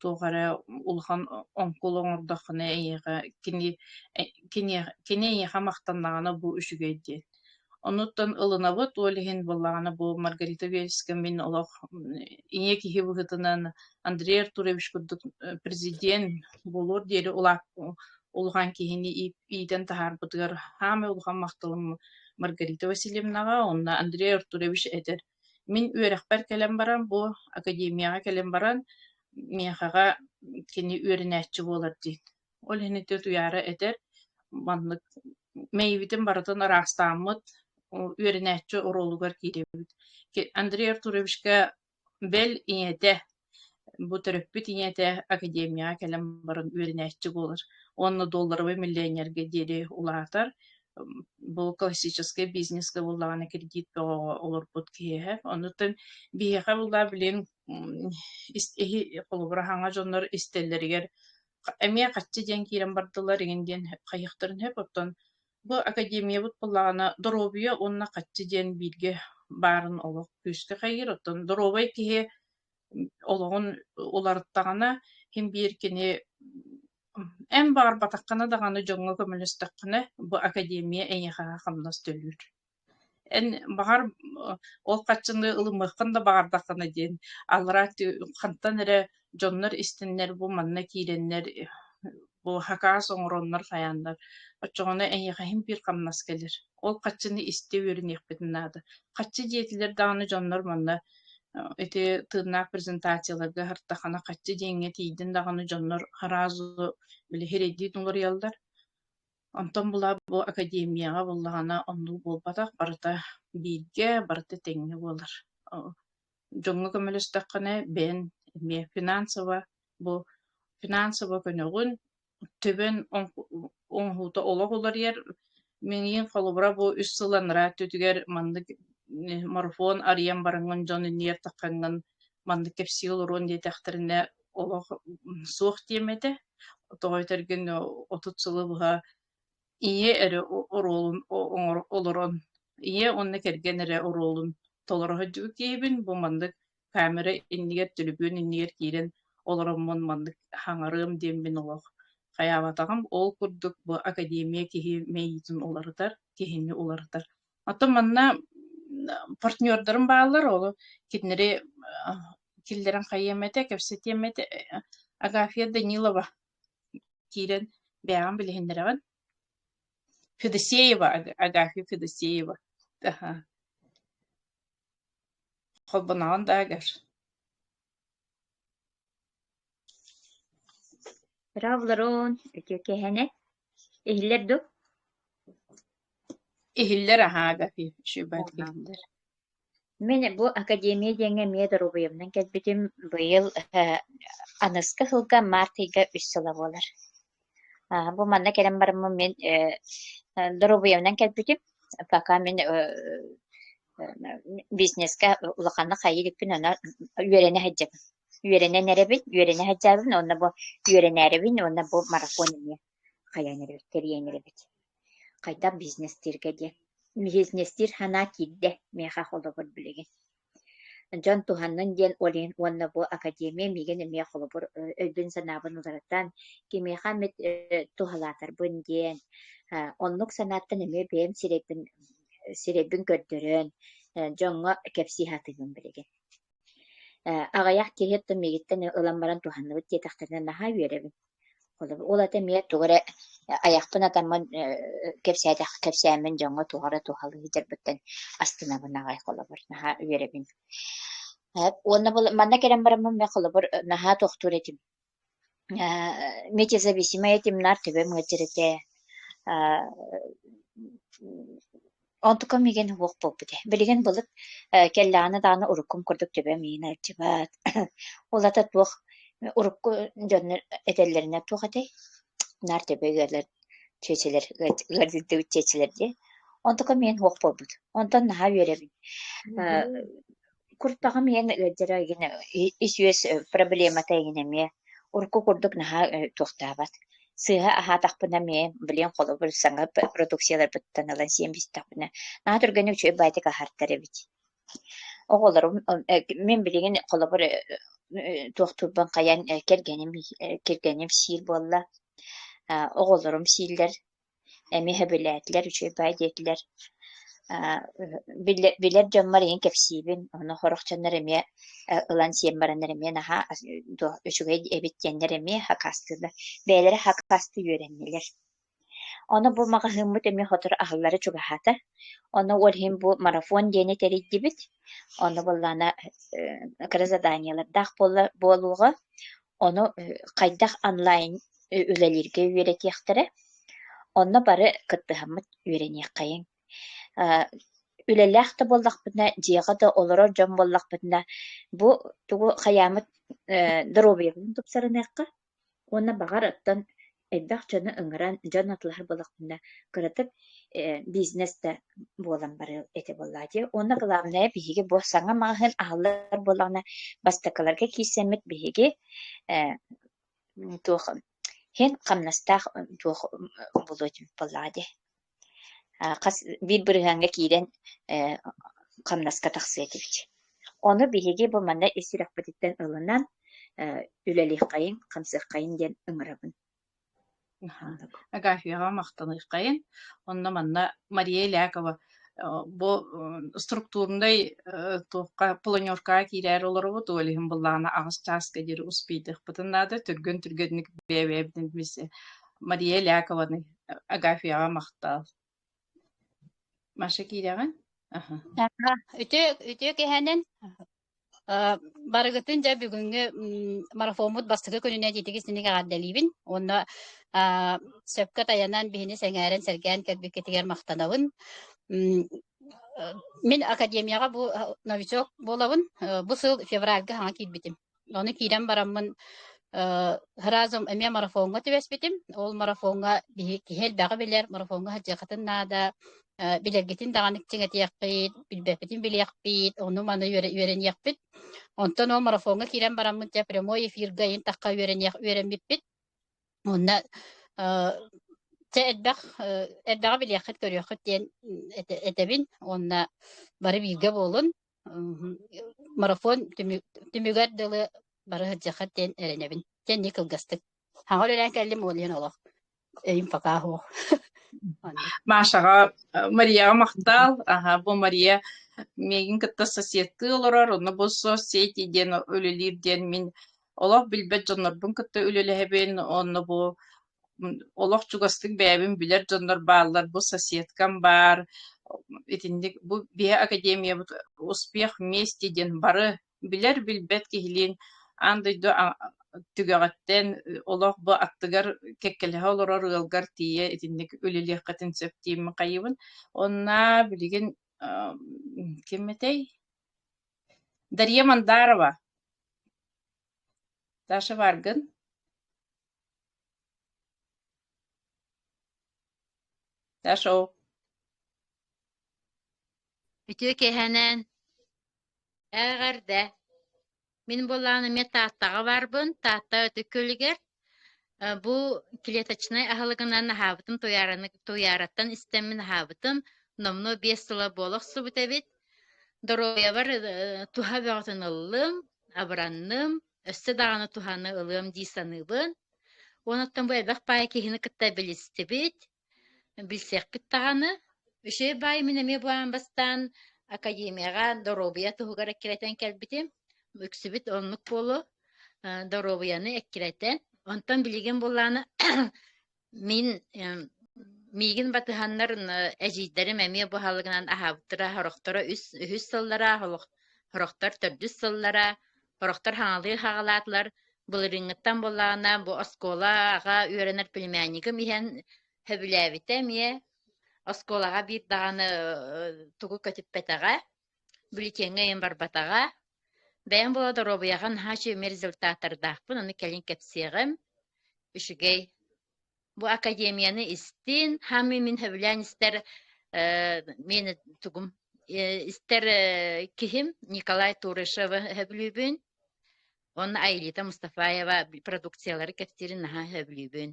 туох эрэ улахан оҥкул оҥордоххуна эйиэхэ кини кини кини эйиэхэ махтаннаҕына бу үчүгэй диэн онуттан ылынабыт ол иһин былаана бу Маргарита Вельская мин олох ийэ киһи быһыытынан Андрей Артурович курдук президент буолуор диэри улаат улахан киһини иитэн таһаарбытыгар саамай улахан махталым Маргарита Васильевнаҕа уонна Андрей Артурович этэр Мин үөрэхпэр кэлэн баран, бу академияҕа кэлэн баран, миэхэҕэ кини үөрэнээччи буолар диин. Ол иһин ити утуйаары этэр, маннык мэйибитин барытын ыраастааммыт, үөрэнээччи оруолугар киирэбит. Андрей Артуровичка бэл ийэтэ Бу төрөппүт ийэтэ академияҕа кэлэн баран үөрэнээччи буолар уонна долларовый миллионерга диэри улаатар. Бу классическай бизнеска буллаҕына кредит бөҕөҕө олорбут киһиэхэ. Онутан биһиэхэ буллаа билигин холобур аһаҥа дьоннор истэллэригэр эмиэ хаччы диэн киирэн бардылар игин диэн хайыахтарын сөп, оттон Бу академиябыт былаана доруобуйа уонна хаччы диэн бииргэ баарын олох күүскэ хайыыр. Оттон доруобай киһи олоҕун уларыттаҕына, син биир кини эн баарбатаххына даҕаны дьоҥҥо көмөлөстөххүнэ, бу академия эйиэхэ хамнас төлүүр. Эн баҕар ол хаччыны ылымыаххын да баҕардаххына диэн аллараа хантан эрэ дьоннор истэннэр бу манна киирэннэр бу хакаас оҥороннор хайааннар оччоҕуна эйиэхэ иһин-биир хамнас кэлэр. Ол хаччыны истэ үөрэниэхпитин наада. Хаччы диэтилэр даҕаны дьоннор манна ити тыыннаах презентацияларга һартахана хаччы диэҥҥэ тиийдин даҕаны дьоннор араазу билиһи эрэйдии уларыйаллар Онтон была бу академияҕа буоллаҕына оннук буолбатах, барыта бииргэ, барыта тэҥҥэ буолар. О дьоҥҥо көмөлөстөххүнэ бэйэн эмиэ финансово бу финансово көнөҕүн, төбөн оҥоһу оҥоһуута олох уларыйар. Миигин холобура бу үс сыл анараа өттүтүгэр маннык марафон арыйан бараҥҥын дьон инийиэхтэххиҥҥин маннык кэпсии олоруон диэтэхтэринэ олох суох диэм этэ. Тоҕо этэргин отут сылы быһа ийэ эрэ оруолун олорон ийэ уонна кэргэн эрэ оруолун толоро сылдьыбыт киһибин. Бу маннык камера иннигэр, төлөпүөн иннигэр киирэн олороммун маннык хаҥарыам диэммин олох хайаабатаҕым. Ол курдук бу академия киһи мэйиитин уларытар, киһини уларытар. Оттон манна партнердарым бааллар, ол кинилэри киллэрэн хайыам этэ, кэпсэтиэм этэ, э, Агафья Данилова киирэн бэйэҕин билиһиннэрэҕин. Федосеева, Агафья Федосеева. Аха. Холбоноҕун да Агаш. Браво, Ларон, үтүө кэһэнэ. Иһиллэр ду? Иһиллэр аһаа Гафишева дииллэр. Мин бу академия диэҥҥэ эмиэ доруобуйабынан кэлбитим. Быйыл э, аныска сылга март ыйга үс сыла буолар. Аа, бу манна кэлэн барыммын мин э, доруобуйамнан кэлбитим. Пока мин э, бизнеска улаханнык хайыы иликпин ана үөрэнэ сылдьабын. Үөрэнэн эрэбин, үөрэнэ сылдьабын, онно бу үөрэнээрэбин, онно бу марафон эмиэ хайаан эрэбит, тэрийэн эрэбит. Хайдах бизнестиргэ диэн. Бизнестир санаа киирдэ, миэхэ холобур билигин. Дьон туһаннын диэн Олень уонна бу академия миигин эмиэ холобур өйбүн-санаабын уларытан, кимиэхэ эмит туһалаатарбын диэн, оннук санааттан эмиэ бэйэм сирэйбин сирэйбин көрдөрөн, дьоҥҥо кэпсии сатыыбын билигин. Аҕыйах киһи миигиттэн ылан баран туһанныбыт диэтэхтэринэ наһаа үөрэбин. Ол этэ эмиэ тугу эрэ айахпын атаммын кэпсээтэххэ кэпсээммин дьоҥҥо туох эрэ туһалыы сыдьарбыттан астынабын аҕай холобур наһаа үөрэбин. Уонна манна кэлэн бараммын мин холобур наһаа тохтуур этим. Метезависимая темнар төбөм ыалдьар этэ. Онтукам миигин уһуох буолбут ээ. Билигин былыт э, кэллэҕинэ-даҕаны уруккум курдук төбөм иһин алдьыбат. Ол ата туох урукку дьоннор этэллэринэ туох этэй? Наар төбө ыалар чүөчэлэр ыат- ыалдьыттыбыт чүөчэлэр дии. Онтукам миигин уһуох буолбут. Онтон наһаа үөрэбин. Э, Мгм. куртаҕым иһэн ыалдьара гына ис-үөс проблемата гына эмиэ урукку курдук наһаа туохтаабат сыыһа аһаатахпына эмиэ блин холобур саҥа продукцияларбыттан ылан сиэн бистэхпинэ наһаа түргэнник үчүгэй баайтык аһартар эбит оҕолорум мин билигин холобур туохтуурбан хайан кэргэним кэргэним сиир буолла оҕолорум сииллэр эмиэ сөбүлээтилэр, үчүгэйбэ диэтилэр. Билэр дьоммор эйин кэпсиибин, ону хорохчоннор эмиэ ылан сиэн бараннар эмиэ наһаа үчүгэй эбит диэннэр эмиэ хакастыылар, бэйэлэрэ хакасты үөрэннилэр. Ону бу маҕаһыыммыт эмиэ сотору аһыллара чугаһаата. Ону ол иһин бу марафон диэни тэрийдибит. Ону буоллаана кыра заданиелардаах буолуоҕа. Ону хайдах онлайн үлэлииргэ үөрэтиэхтэрэ. Онно бары кыттыһаммыт үөрэниэххэйиҥ. Э, үлэлээх да буоллахпытына, дьиэҕэ да олорор дьон буоллахпытына, бу тугу хайаамыт э, доруобуйабытын тупсарыныахха уонна баҕар оттон элбэх дьону ыҥыран дьон атылаһар балаҕаҥҥа кыратык бизнес да буолан барыа этэ буоллаатыы уонна главное биһиги бу саҥа маҕаһыын аһыллар буоллаҕына бастакыларга киирсэммит биһиги туох иһин хамнастаах туох буолуо этим буоллаҕа дии хас биир бырыһааҥҥа киирэн хамнаска тахсыа этибит. Ону биһиги бу манна ис сүрэхпититтэн ылынан үлэлиэххэйиҥ, хамсыаххайыҥ диэн ыҥырабын. Агафьяҕа махтаныаххайын. Онно-манна Мария Илякова бу структурнай туохха планеркаҕа киирээр олоробут ол иһин былаана аҕыс чааска диэри успейдахпытын наада түргэн түргэнник бэйэбэбитин Мария Лякованы Агафияҕа махтаал. Маша киирэҕин? Аха. Үтүө, үтүө кэһэнэн барыгытын дьэ бүгүҥҥү марафоммут бастакы күнүнэн итиги синик эҕэрдэлиибин уонна сөпкө тайанан биһини сэҥээрэн сэргээн кэлбиккитигэр махтанабын мин академияҕа бу новичок буолабын бу сыл февральга хаҥа киирбитим Ону киирэн бараммын разом эмиэ марафоҥҥа түбэспитим. Ол марафоҥҥа киһи элбэҕи билэр, марафоҥҥа садьыаххытын наада, билэргитин даҕаны чиҥэтиэхпит, билбэппитин билиэхпит, ону-маны үөрэниэхпит. Онтон ол марафоҥҥа киирэн бараммын дьэ прямой эфирга иһин тахха үөрэниэх үөрэммиппит. Онно чэ элбэх элбэҕи билиэххит, көрүөххүт диэн этэбин. Уонна бары бииргэ буолун. марафон түмүгэр дылы бары сылдьаххыт диэн эрэнэбин. Кэнни кылгастык. Хаҕа үлэлээн кэллим ол иһин олох эйим пока оһох. Машаҕа Марияҕа махтаал. Аха бу Мария мегин кытта соседтыы олорор, онно бу соцсети диэн үлэлиир диэн мин олох билбэт дьоннорбун кытта үлэлэһэбин, онно бу олох чугастык бэйэбин билэр дьоннор бааллар бу соседкам баар итинник бу биһэ академиябыт успех вместе диэн бары билэр билбэт киһилиин аан дойду түгэҕиттэн олох бу аттыгар кэккэлэһэ олорор ыалгар тиийэ итинник үлэлиэххитин сөп дииммин хайыыбын онно билигин ким этэй дария мандарова даша баргын Дашоу. Үтүө кэһэнэн, ээҕэрдэ. Мин буоллаан эмиэ Тааттаҕа барбын. Таатта Өтүк Күлүгэр. Бу клеточнай аһылыгынан аһаабытым, туйаараттан истэммин аһаабытым. Номнуо биэс сыла буола охсубут эбит. Доруобуйабар туһа бөҕөтүн ыллым, абыранным. өссө даҕаны туһаны ылыам дии саныыбын. Онуттан бу элбэх баай киһини кытта билистибит, билсиэхпит даҕаны. Үчүгэй баай мин эмиэ бу аан бастаан академияҕа доруобуйа туһугар эккирэтэн кэлбитим. Үксүбүт оннук буолу доруобуйаны эккирэтэн. Онтон билигин буллааны Мин миигин батыһаннар эдьиийдэрим эмиэ бу аһылыгынан аһаабыттара сорохторо үс үһүс сыллара олох сорохтор төрдүс сыллара сорохтор хаҥалыы хаҕалаатылар былырыыҥҥыттан буоллаҕына бу оскуолаҕа үөрэнэр племяннигым иһэн сөбүлээбитэ эмиэ оскуолаҕа биир даҕаны тугу көтүппэтэҕэ бюллетеҥҥа ыйан барбатаҕа. Бэйэм буола доруобуйаҕа наһаа үчүгэй результаттардаахпын, ону кэлин кэпсиэҕим. Үчүгэй. Бу академияны истин, хамы мин хөбүлээн истэр э, мен тугум э, истэр э, киһим Николай Турышевы хөбүлүүбүн. Онно Аилита Мустафаева продукциялары кэпсиирин наһаа хөбүлүүбүн.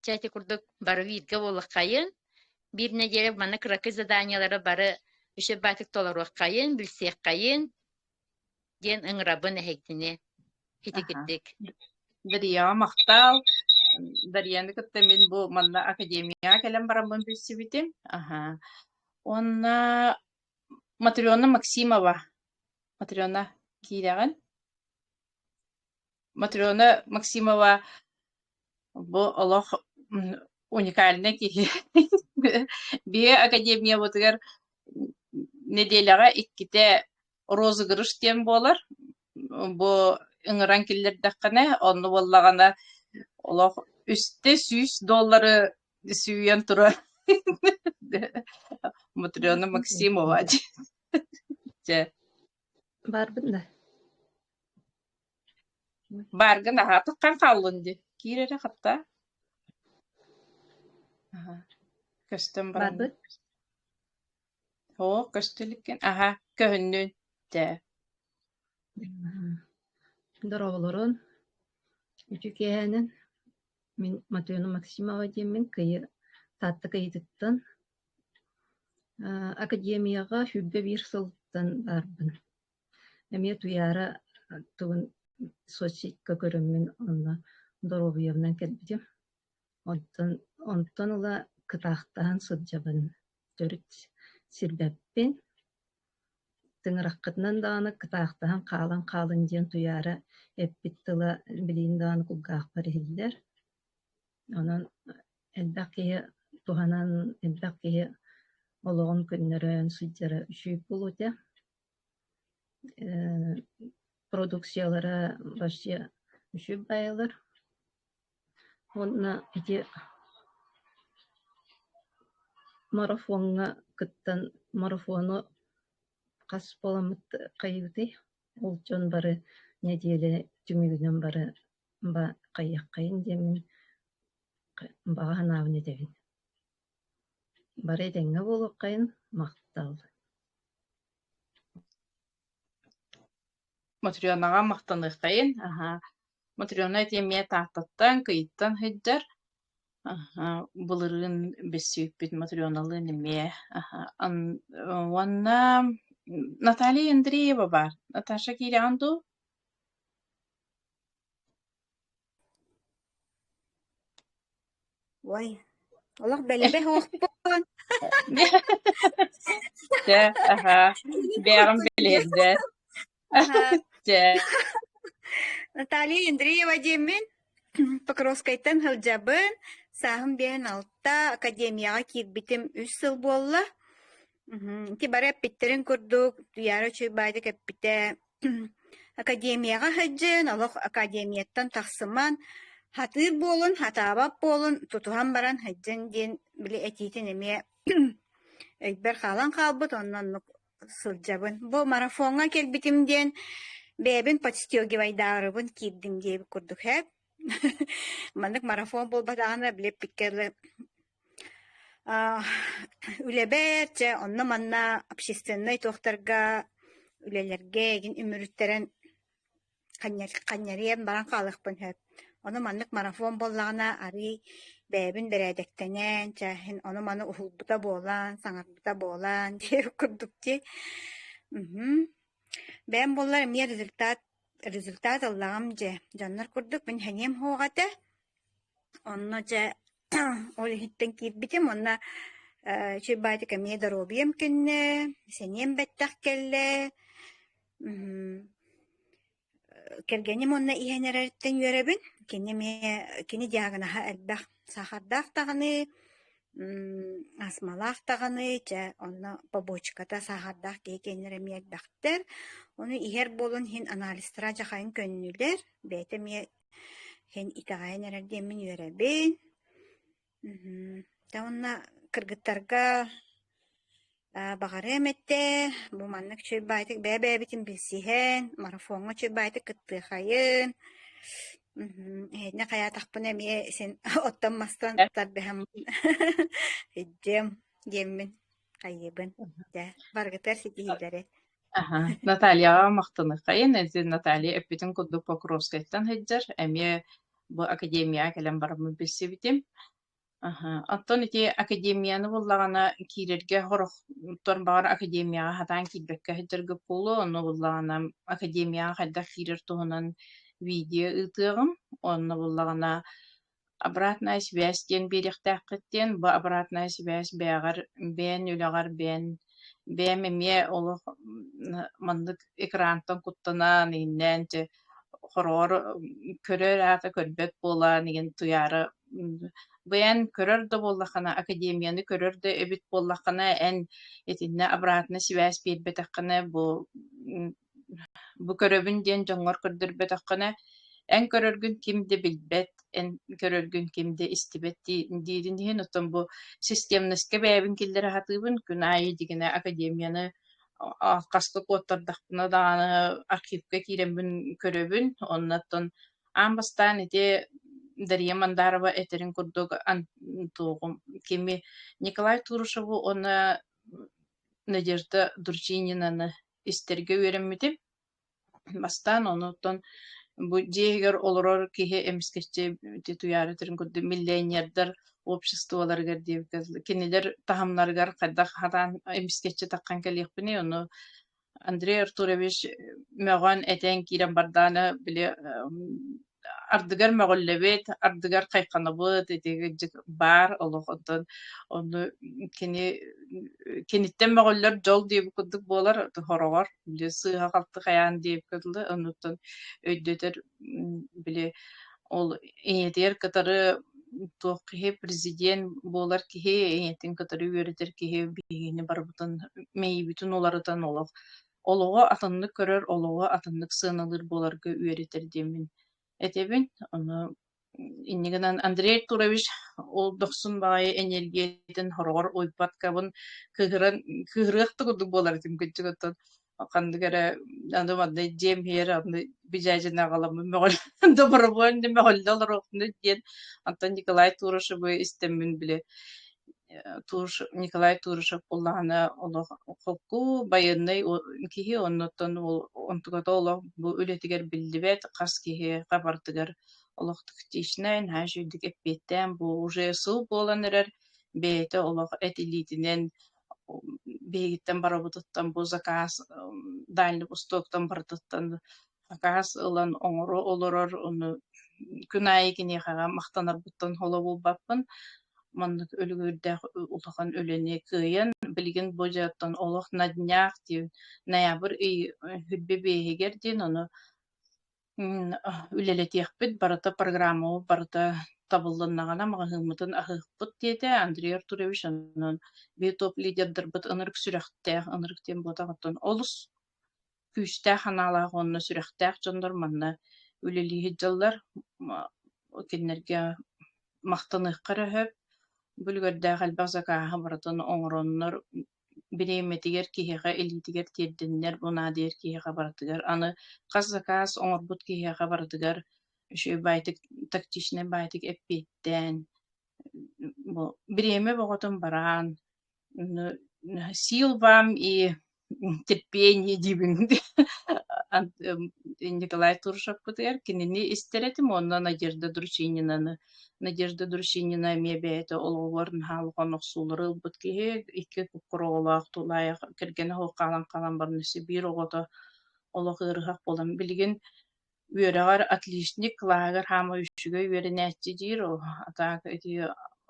Чэ, ити курдук бары бииргэ буоллаххайын, биир нэдиэлэ манна кыракый заданиелары бары үсүрбаатык толоруоххайын, билсиэххайын диэн ыҥырабын эһигини Аха. хитикирдик. Дарияҕа махтаал. Дарияны кытта мин бу манна академияҕа кэлэн бараммын билсибитим. Аха. Уонна Матрена Максимова. Матрена, киирэҕин? Матрена Максимова бу олох уникальнай киһи. Бие академиябытыгар нэдиэлэҕэ иккитэ розыгрыш диэн буолар. Бу ыҥыран киллэрдэххинэ, онно буоллаҕына олох үстэ сүүс доллары сүүйэн турар Матрена Максимова дьэ. Барбын да. Баарга наһаа атаххаҥ хааллын дии, киир эрэ хаптаа. Аһа, көстөн баран Барбыт. Оо, көстө иликкин. Аһа, көһүннүн. Даа. Доруобулурун үчү киэһэнэн мин Мотуона Максимова диэммин кыйы Таатта кыйытыттан а, академияҕа сүүрбэ биир сылтан барбын. Эмиэ Туйаара тылын соцсетька көрөммүн онно доруобуйабынан кэлбитим. Онтон онтон ыла кытаахтаһан сылдьабын. Төрүт сирбэппин. Тыҥыраххытынан даҕаны кытаахтаһан хаалан хаалыҥ диэн Туйаара эппит тыла билигин даҕаны кулгаахпар иһиллэр. Онон элбэх киһи туһанан, элбэх киһи олоҕун көннөрөн сылдьара үчүгэй буолуо этэ. Э продукциялара вообще үчүгэй баайалар уонна ити марафоҥҥа кыттан марафону хас буоламмыт хайыгытый? Ол дьон бары нэдиэлэ түмүгүнэн бары ба хайыаххайын диэммин баҕа санаабын этэбин Бары этэҥҥэ буолуоххайын, махтал Мотрёнаҕа махтаныаххайын. Аһа, Мотрёна ити эмиэ Тааттаттан, Кыйтан сылдьар. Аһа, былырыын билсибиппит Мотрёналыын эмиэ. Аһа, ан уонна Наталья Андреева баар. Наташа киирэҕин дуу? Ой, олох бэлэбэ суохпун. Чэ, аһаа, бэйэҕин билиэрдэ. Аһаа. Чэ, Наталья Андреева диэммин, Покровскайтан сылдьабын, сааһым биэһин алта, академияҕа киирбитим үс сыл буолла. Мгм. Ити бары эппиттэрин курдук, Туйаара Чуйбаадьа кэппитэ Академияҕа сылдьан олох академияттан тахсымаан, сатыыр буолун, сатаабат буолун, тутуһан баран сылдьан диэн били этиитин эмиэ өйбөр хаалан хаалбыт, онно оннук сылдьабын. Бу марафоҥҥа кэлбитим диэн бэйэбин подстегивайдаарыбын киирдим диэбит курдук ээ. Маннык марафон буолбатаҕына били эппиккэ дылы Үлэбэр дьэ онно-манна общественнай туохтарга үлэлэргэ ээгин үмүрүттэрэн ханньарыйан баран хаалыахпын сөп. Ону маннык марафон буоллаҕына арыый бэйэбин бэрээдэктэнэн, чэ иһин ону-маны уһулбута буолан, саҥарбыта буолан диэх курдук дии. Мм бэйэм буоллар эмиэ результат Результат ыллаҕым дьэ, дьоннор курдук мин сэниэм суох этэ, онно дьэ ол иһиттэн киирбитим уонна ээ чуй баатик эмиэ доруобуйам кэннэ, сэниэм бэттэх кэллэ, мм кэргэним уонна иһэн эрэриттэн үөрэбин, кини эмиэ кини диагноһа элбэх, саахардаах даҕаны астмалаах даҕаны чэ онно побочката саахардаах киһи киэннэрэ эмиэ элбэхтэр ону иһэр буолан иһин анализтара дьахайын көннүлэр бэйэтэ эмиэ иһин итэҕэйэн эрэр диэммин үөрэбин мм да уонна кыргыттарга Баҕарыам эттэ, бу маннык үчүгэй баайтык бэйэ-бэйэбитин билсиһэн, марафоҥҥа үчүгэй баайтык кыттыахайын, мм эһэтинэ хайаатахпына эмиэ син оттон-мастан тардыһаммын өйдүөм диэммин хайыыбын. Дьэ, барыгытыгар ситиһиилэри. Аһа, Натальяҕа махтаныаххайын. Ити Наталья эппитин курдук Покровскайтан сылдьар. Эмиэ бу академияҕа кэлэн бараммын билсибитим. Аһа. Оттон ити академияны буллаҕына киирэргэ хорохтор баҕар академияҕа хатаан киирбэккэ сылдьарга буолуо. Онно буллаҕына академияҕа хайдах киирэр туһунан видео ыытыаҕым. Онно буллаҕына обратная связь диэн биэриэхтээххит диэн. Бу обратная связь бэйэҕэр бэйэн үлэҕэр бэйэн бэйэм эмиэ олох маннык экрантан куттанан иһиннээн хороҕор көрөр аата көрбөт буолан иһин туйаара Быйан көрөр да буоллаххына, академияны көрөр да эбит буоллаххына, эн итиннэ обратно сибээс биэрбэтэххинэ, бу бу көрөбүн диэн дьоҥҥор көрдөрбөтөххүнэ, эн көрөргүн ким да билбэт, эн көрөргүн ким да истибэт дии диирин иһин, оттон бу системноска бэйэбин киллэрэ сатыыбын, күн аайы дигине академияны а хаста куоттардахпына даҕаны архивка киирэммин көрөбүн, онно оттон аан бастаан ити Дария Мандарова этэрин курдук туоҕум кими Николай Турушеву уонна Надежда Дурчининаны истэргэ үөрэммитим. Бастаан онуттан бу дьиэһигэр олорор киһи эмискэччи ити туйаарытырын курдук миллионердар обществоларыгар диэбиккэ кинилэр таһымнарыгар хайдах хатаан эмискэччи таххан кэлиэхпиний ону Андрей Артурович мөҕөн, этэн киирэн бардааны били ардыгар мөҕүллэбит, ардыгар хайханабыт, итигиджик баар олох онтон ону кини киниттэн мөҕүллэр дьол диэбит курдук буолар хороҕор сыыһа-халты хайаан диэбиккэ дылы оннуттан өйдөтөр били ол ийэтигэр кытары туох киһи президент буолар киһи ийэтин кытары үөрэтэр киһи биһигини барыбытын мэйиибитин уларытан олох олоҕу атыннык көрөр олоҕу атыннык сыаналыыр буоларга үөрэтэр диэммин этэбин ону иннигинэн Андрей Артурович ол дохсун баҕайы эниэргиятин хороҕор уйпаткабын кыһыран кыһырыах да курдук буолар этим күччүк оттон ханнык эрэ аны манна дьиэм иһэр аны бижаджина аҕаламмын мөҕөл добровольно мөҕөллө олоруохпуна диэн Антон Николай Турашевы истэммин бile Николай Турышев буллаҕына олох холку байыаннай киһи оннуттан онтуката олох бу үлэтигэр биллибэт хас киһи хабардыгар олохтук хитичнай наһаа үчүгэйдик эппиэттээн бу уже сыл буолан эрэр бэйэтэ олох этилиитинэн биһигиттэн барбытыттан бу заказ дальнай востоктан барытыттан акаас ылан оҥоро олорор, ону күн аайы киниэхэҕэ махтанарбыттан холо булбаппын. Маннык өлүгүрдээх улахан үлэни кыайан, билигин бу дьиэттэн олох на днях диэн ноябрь ый хүрбэ биэһигэр диэн ону үлэлэтиэхпит барыта программабыт барыта табыллыннаҕына маҕаһыыммытын аһыахпыт диэтэ Андрей Артурович онон битоп лидердарбыт ынырык сүрэхтээх ынырык диэн буотаҕыттан олус күүстээх санаалаах уонна сүрэхтээх дьоннор манна үлэлии сылдьаллар. Кинилэргэ махтаныахха эрэ сөп. Бүлүгэрдээх элбэх закааһы барытын оҥороннор бириэмэтигэр киһиэхэ илиитигэр тиэрдиннэр бу наадыйар киһиэхэ барытыгар аны хас заказ оҥорбут киһиэхэ барытыгар үчүгэй баайтык тактичнай баайтык эппиэттээн бу бириэмэ бөҕөтүн бараан сил вам и терпение диибин Николай Туршаппытыгар кинини истэр этим онно Надежда Дручининаны Надежда Дручинина эмиэ бэйэтэ олоҕугар наһаа улахан охсуулары ылбыт киһи икки куккуруолаах тулаайах кэргэнэ хоһаалан хаалан баран сибиир оҕото олох ыарыһах буолан билигин Үөрэҕэр отличник кылааһыгар хаамар үчүгэй үөрэнээччи диир, ол атака ити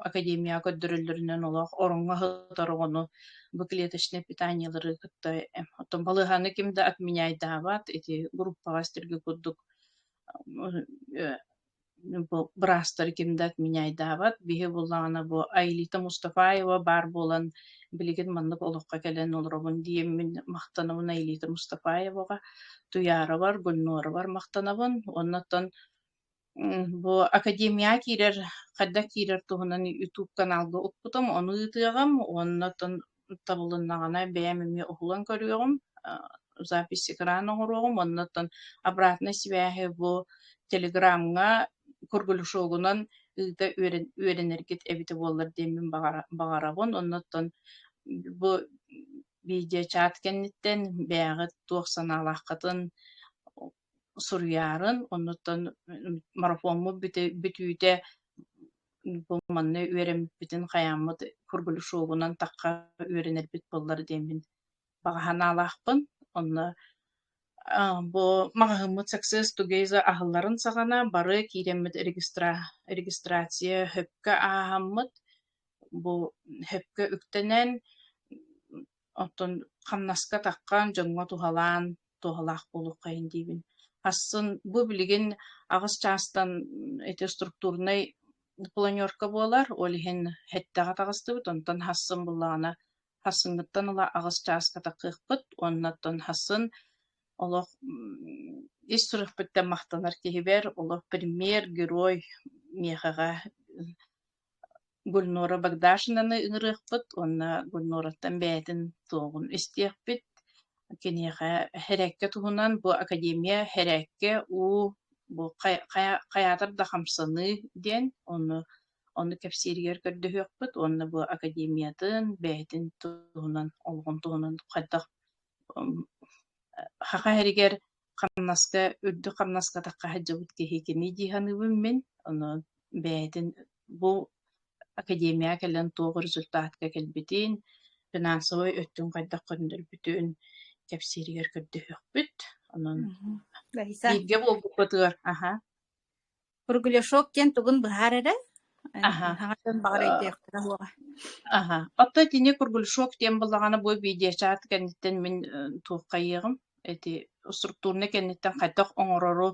академияҕа көрдөрөллөрүнэн олох ороҥҥо сытар оҕону быклеточнай питаниелары кытта оттон балыыһаны ким да отменяйдаабат, ити группаҕа истэргэ курдук быраастары кимдат меняйдаабат биһи буллаҕына бу Аилита Мустафаева баар буолан билигин маннык олоххо кэлэн олоробун диэммин махтанабын Аилита Мустафаеваҕа Туяровар Гульноровар махтанабын оннуттан бу академия киирэр хайдах киирэр туһунан ютуб каналга укпутум ону ыытыаҕым оннуттан табылыннаҕына бэйэм эмиэ уһулан көрүөҕүм, запись экрана оҥоруоҕум, оннуттан обратно связи бу телеграмҥа круглышогунан ыыта үөрэн үөрэнэргит эбитэ буоллар диэммин баҕара баҕарабын. Оннуттан бу видеочаат кэнниттэн бэйэҕит туох санаалааххытын суруйаарын, оннуттан марафоммут бүтүүтэ бу манна үөрэммиппитин хайааммыт Кургулешовунан тахха үөрэнэрбит буоллар диэммин баҕа санаалаахпын. Онно бу маҕаһыыммыт Success Together аһылларын саҕана бары киирэммит регистра регистрация хөпкө ааһаммыт. Бу хөпкө үктэнэн Оттон хамнаска таххан, дьоҥҥо туһалаан, туһалаах буолуоххайын диибин. Асын бу билигин аҕыс чаастан эти структурнай планерка буолар, ол иһин һэттэҕэ таҕыстыбыт, онтон һасын буллаҕына һасыммыттан ыла аҕыс чааска такыахпыт, оннуттан һасын олох ис сүрэхпиттэн махтанар киһибэр, олох пример, герой миэхэҕэ Гульнора Богдашинаны ыҥырыахпыт уонна Гульнораттан бэйэтин туоҕун истиэхпит. Киниэхэ һэрээккэ туһунан бу академия һэрээккэ уу бу хай хая хайаатар да хамсаныы диэн ону ону кэпсииригэр көрдөһүөхпүт уонна бу академиятын бэйэтин туһунан олоҕун туһунан хайдах м, э, саха иһэригэр Хамнаска, үрдүк хамнаска атахха сылдьыбыт киһикиний дии саныыбын мин. Ону бэйэтин бу академияҕа кэлэн туох результатка кэлбитин, финансовай өттүн хайдах көннөрбүтүн кэпсииригэр көрдөһүөхпүт. Онон Раиса. бииргэ буолбуппутугар аха Кругляшок диэн тугун быһаар эрэ, эн аха, хаҥас дьон баҕар э, өйдүөхтэрэ суоҕа. Аха, оттон итини кругляшок диэн буоллаҕына бу видеочаат кэнниттэн мин туоххайыаҕым эти структурнай кэнниттэн хайдах оҥорору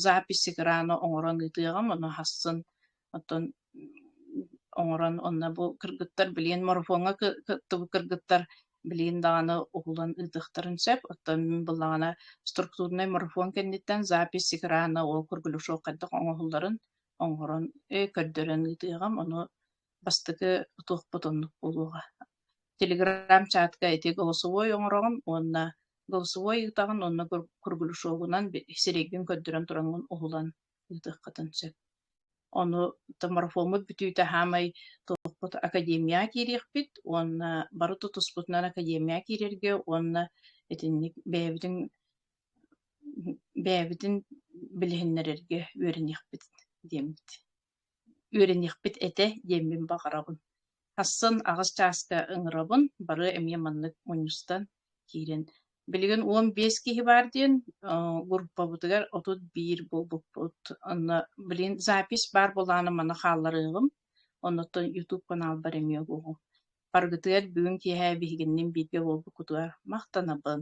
запись экрана оҥорон ыытыаҕым, ону хасын оттон оҥорон онно бу кыргыттар билиэн марафоҥҥа кыттыбыт кыргыттар билиин даҕаны угулан ыытыахтарын сөп оттон мин былаҕана структурнай марафон кэнниттэн запись экрана ол кругляшок хайдах оҥоһулларын оҥорон көрдөрөн ыытыаҕым ону бастакы туохпут оннук буолуоҕа телеграм-чатка ити голосовой оҥороҕум уонна голосовой ыытаҕын уонна кругляшогунан сирэйгин көрдөрөн тураҥҥын уһулан ыытыаххытын сөп. Ону марафоммут бүтүүтэ хаамай туохпут академияҕа киириэхпит уонна бары тутуспутунан академияҕа киирэргэ уонна итинник бэйэбитин бэйэбитин билиһиннэрэргэ үөрэниэхпит диэммит үөрэниэхпит этэ диэммин баҕараҕын. Тахсан аҕыс чааска ыҥырабын, бары эмиэ маннык мунньустан киирэн. Билигин уон биэс киһи баар диэн группабытыгар отут биир буолбуппут. Онно, блин, запись баар буолааны маны хаалларыаҕым. Оннуттан YouTube каналбар эмиэ буолуо. Баргытыгар бүгүн киэһэ биһигиннин бииргэ буолбуккутугар махтанабын.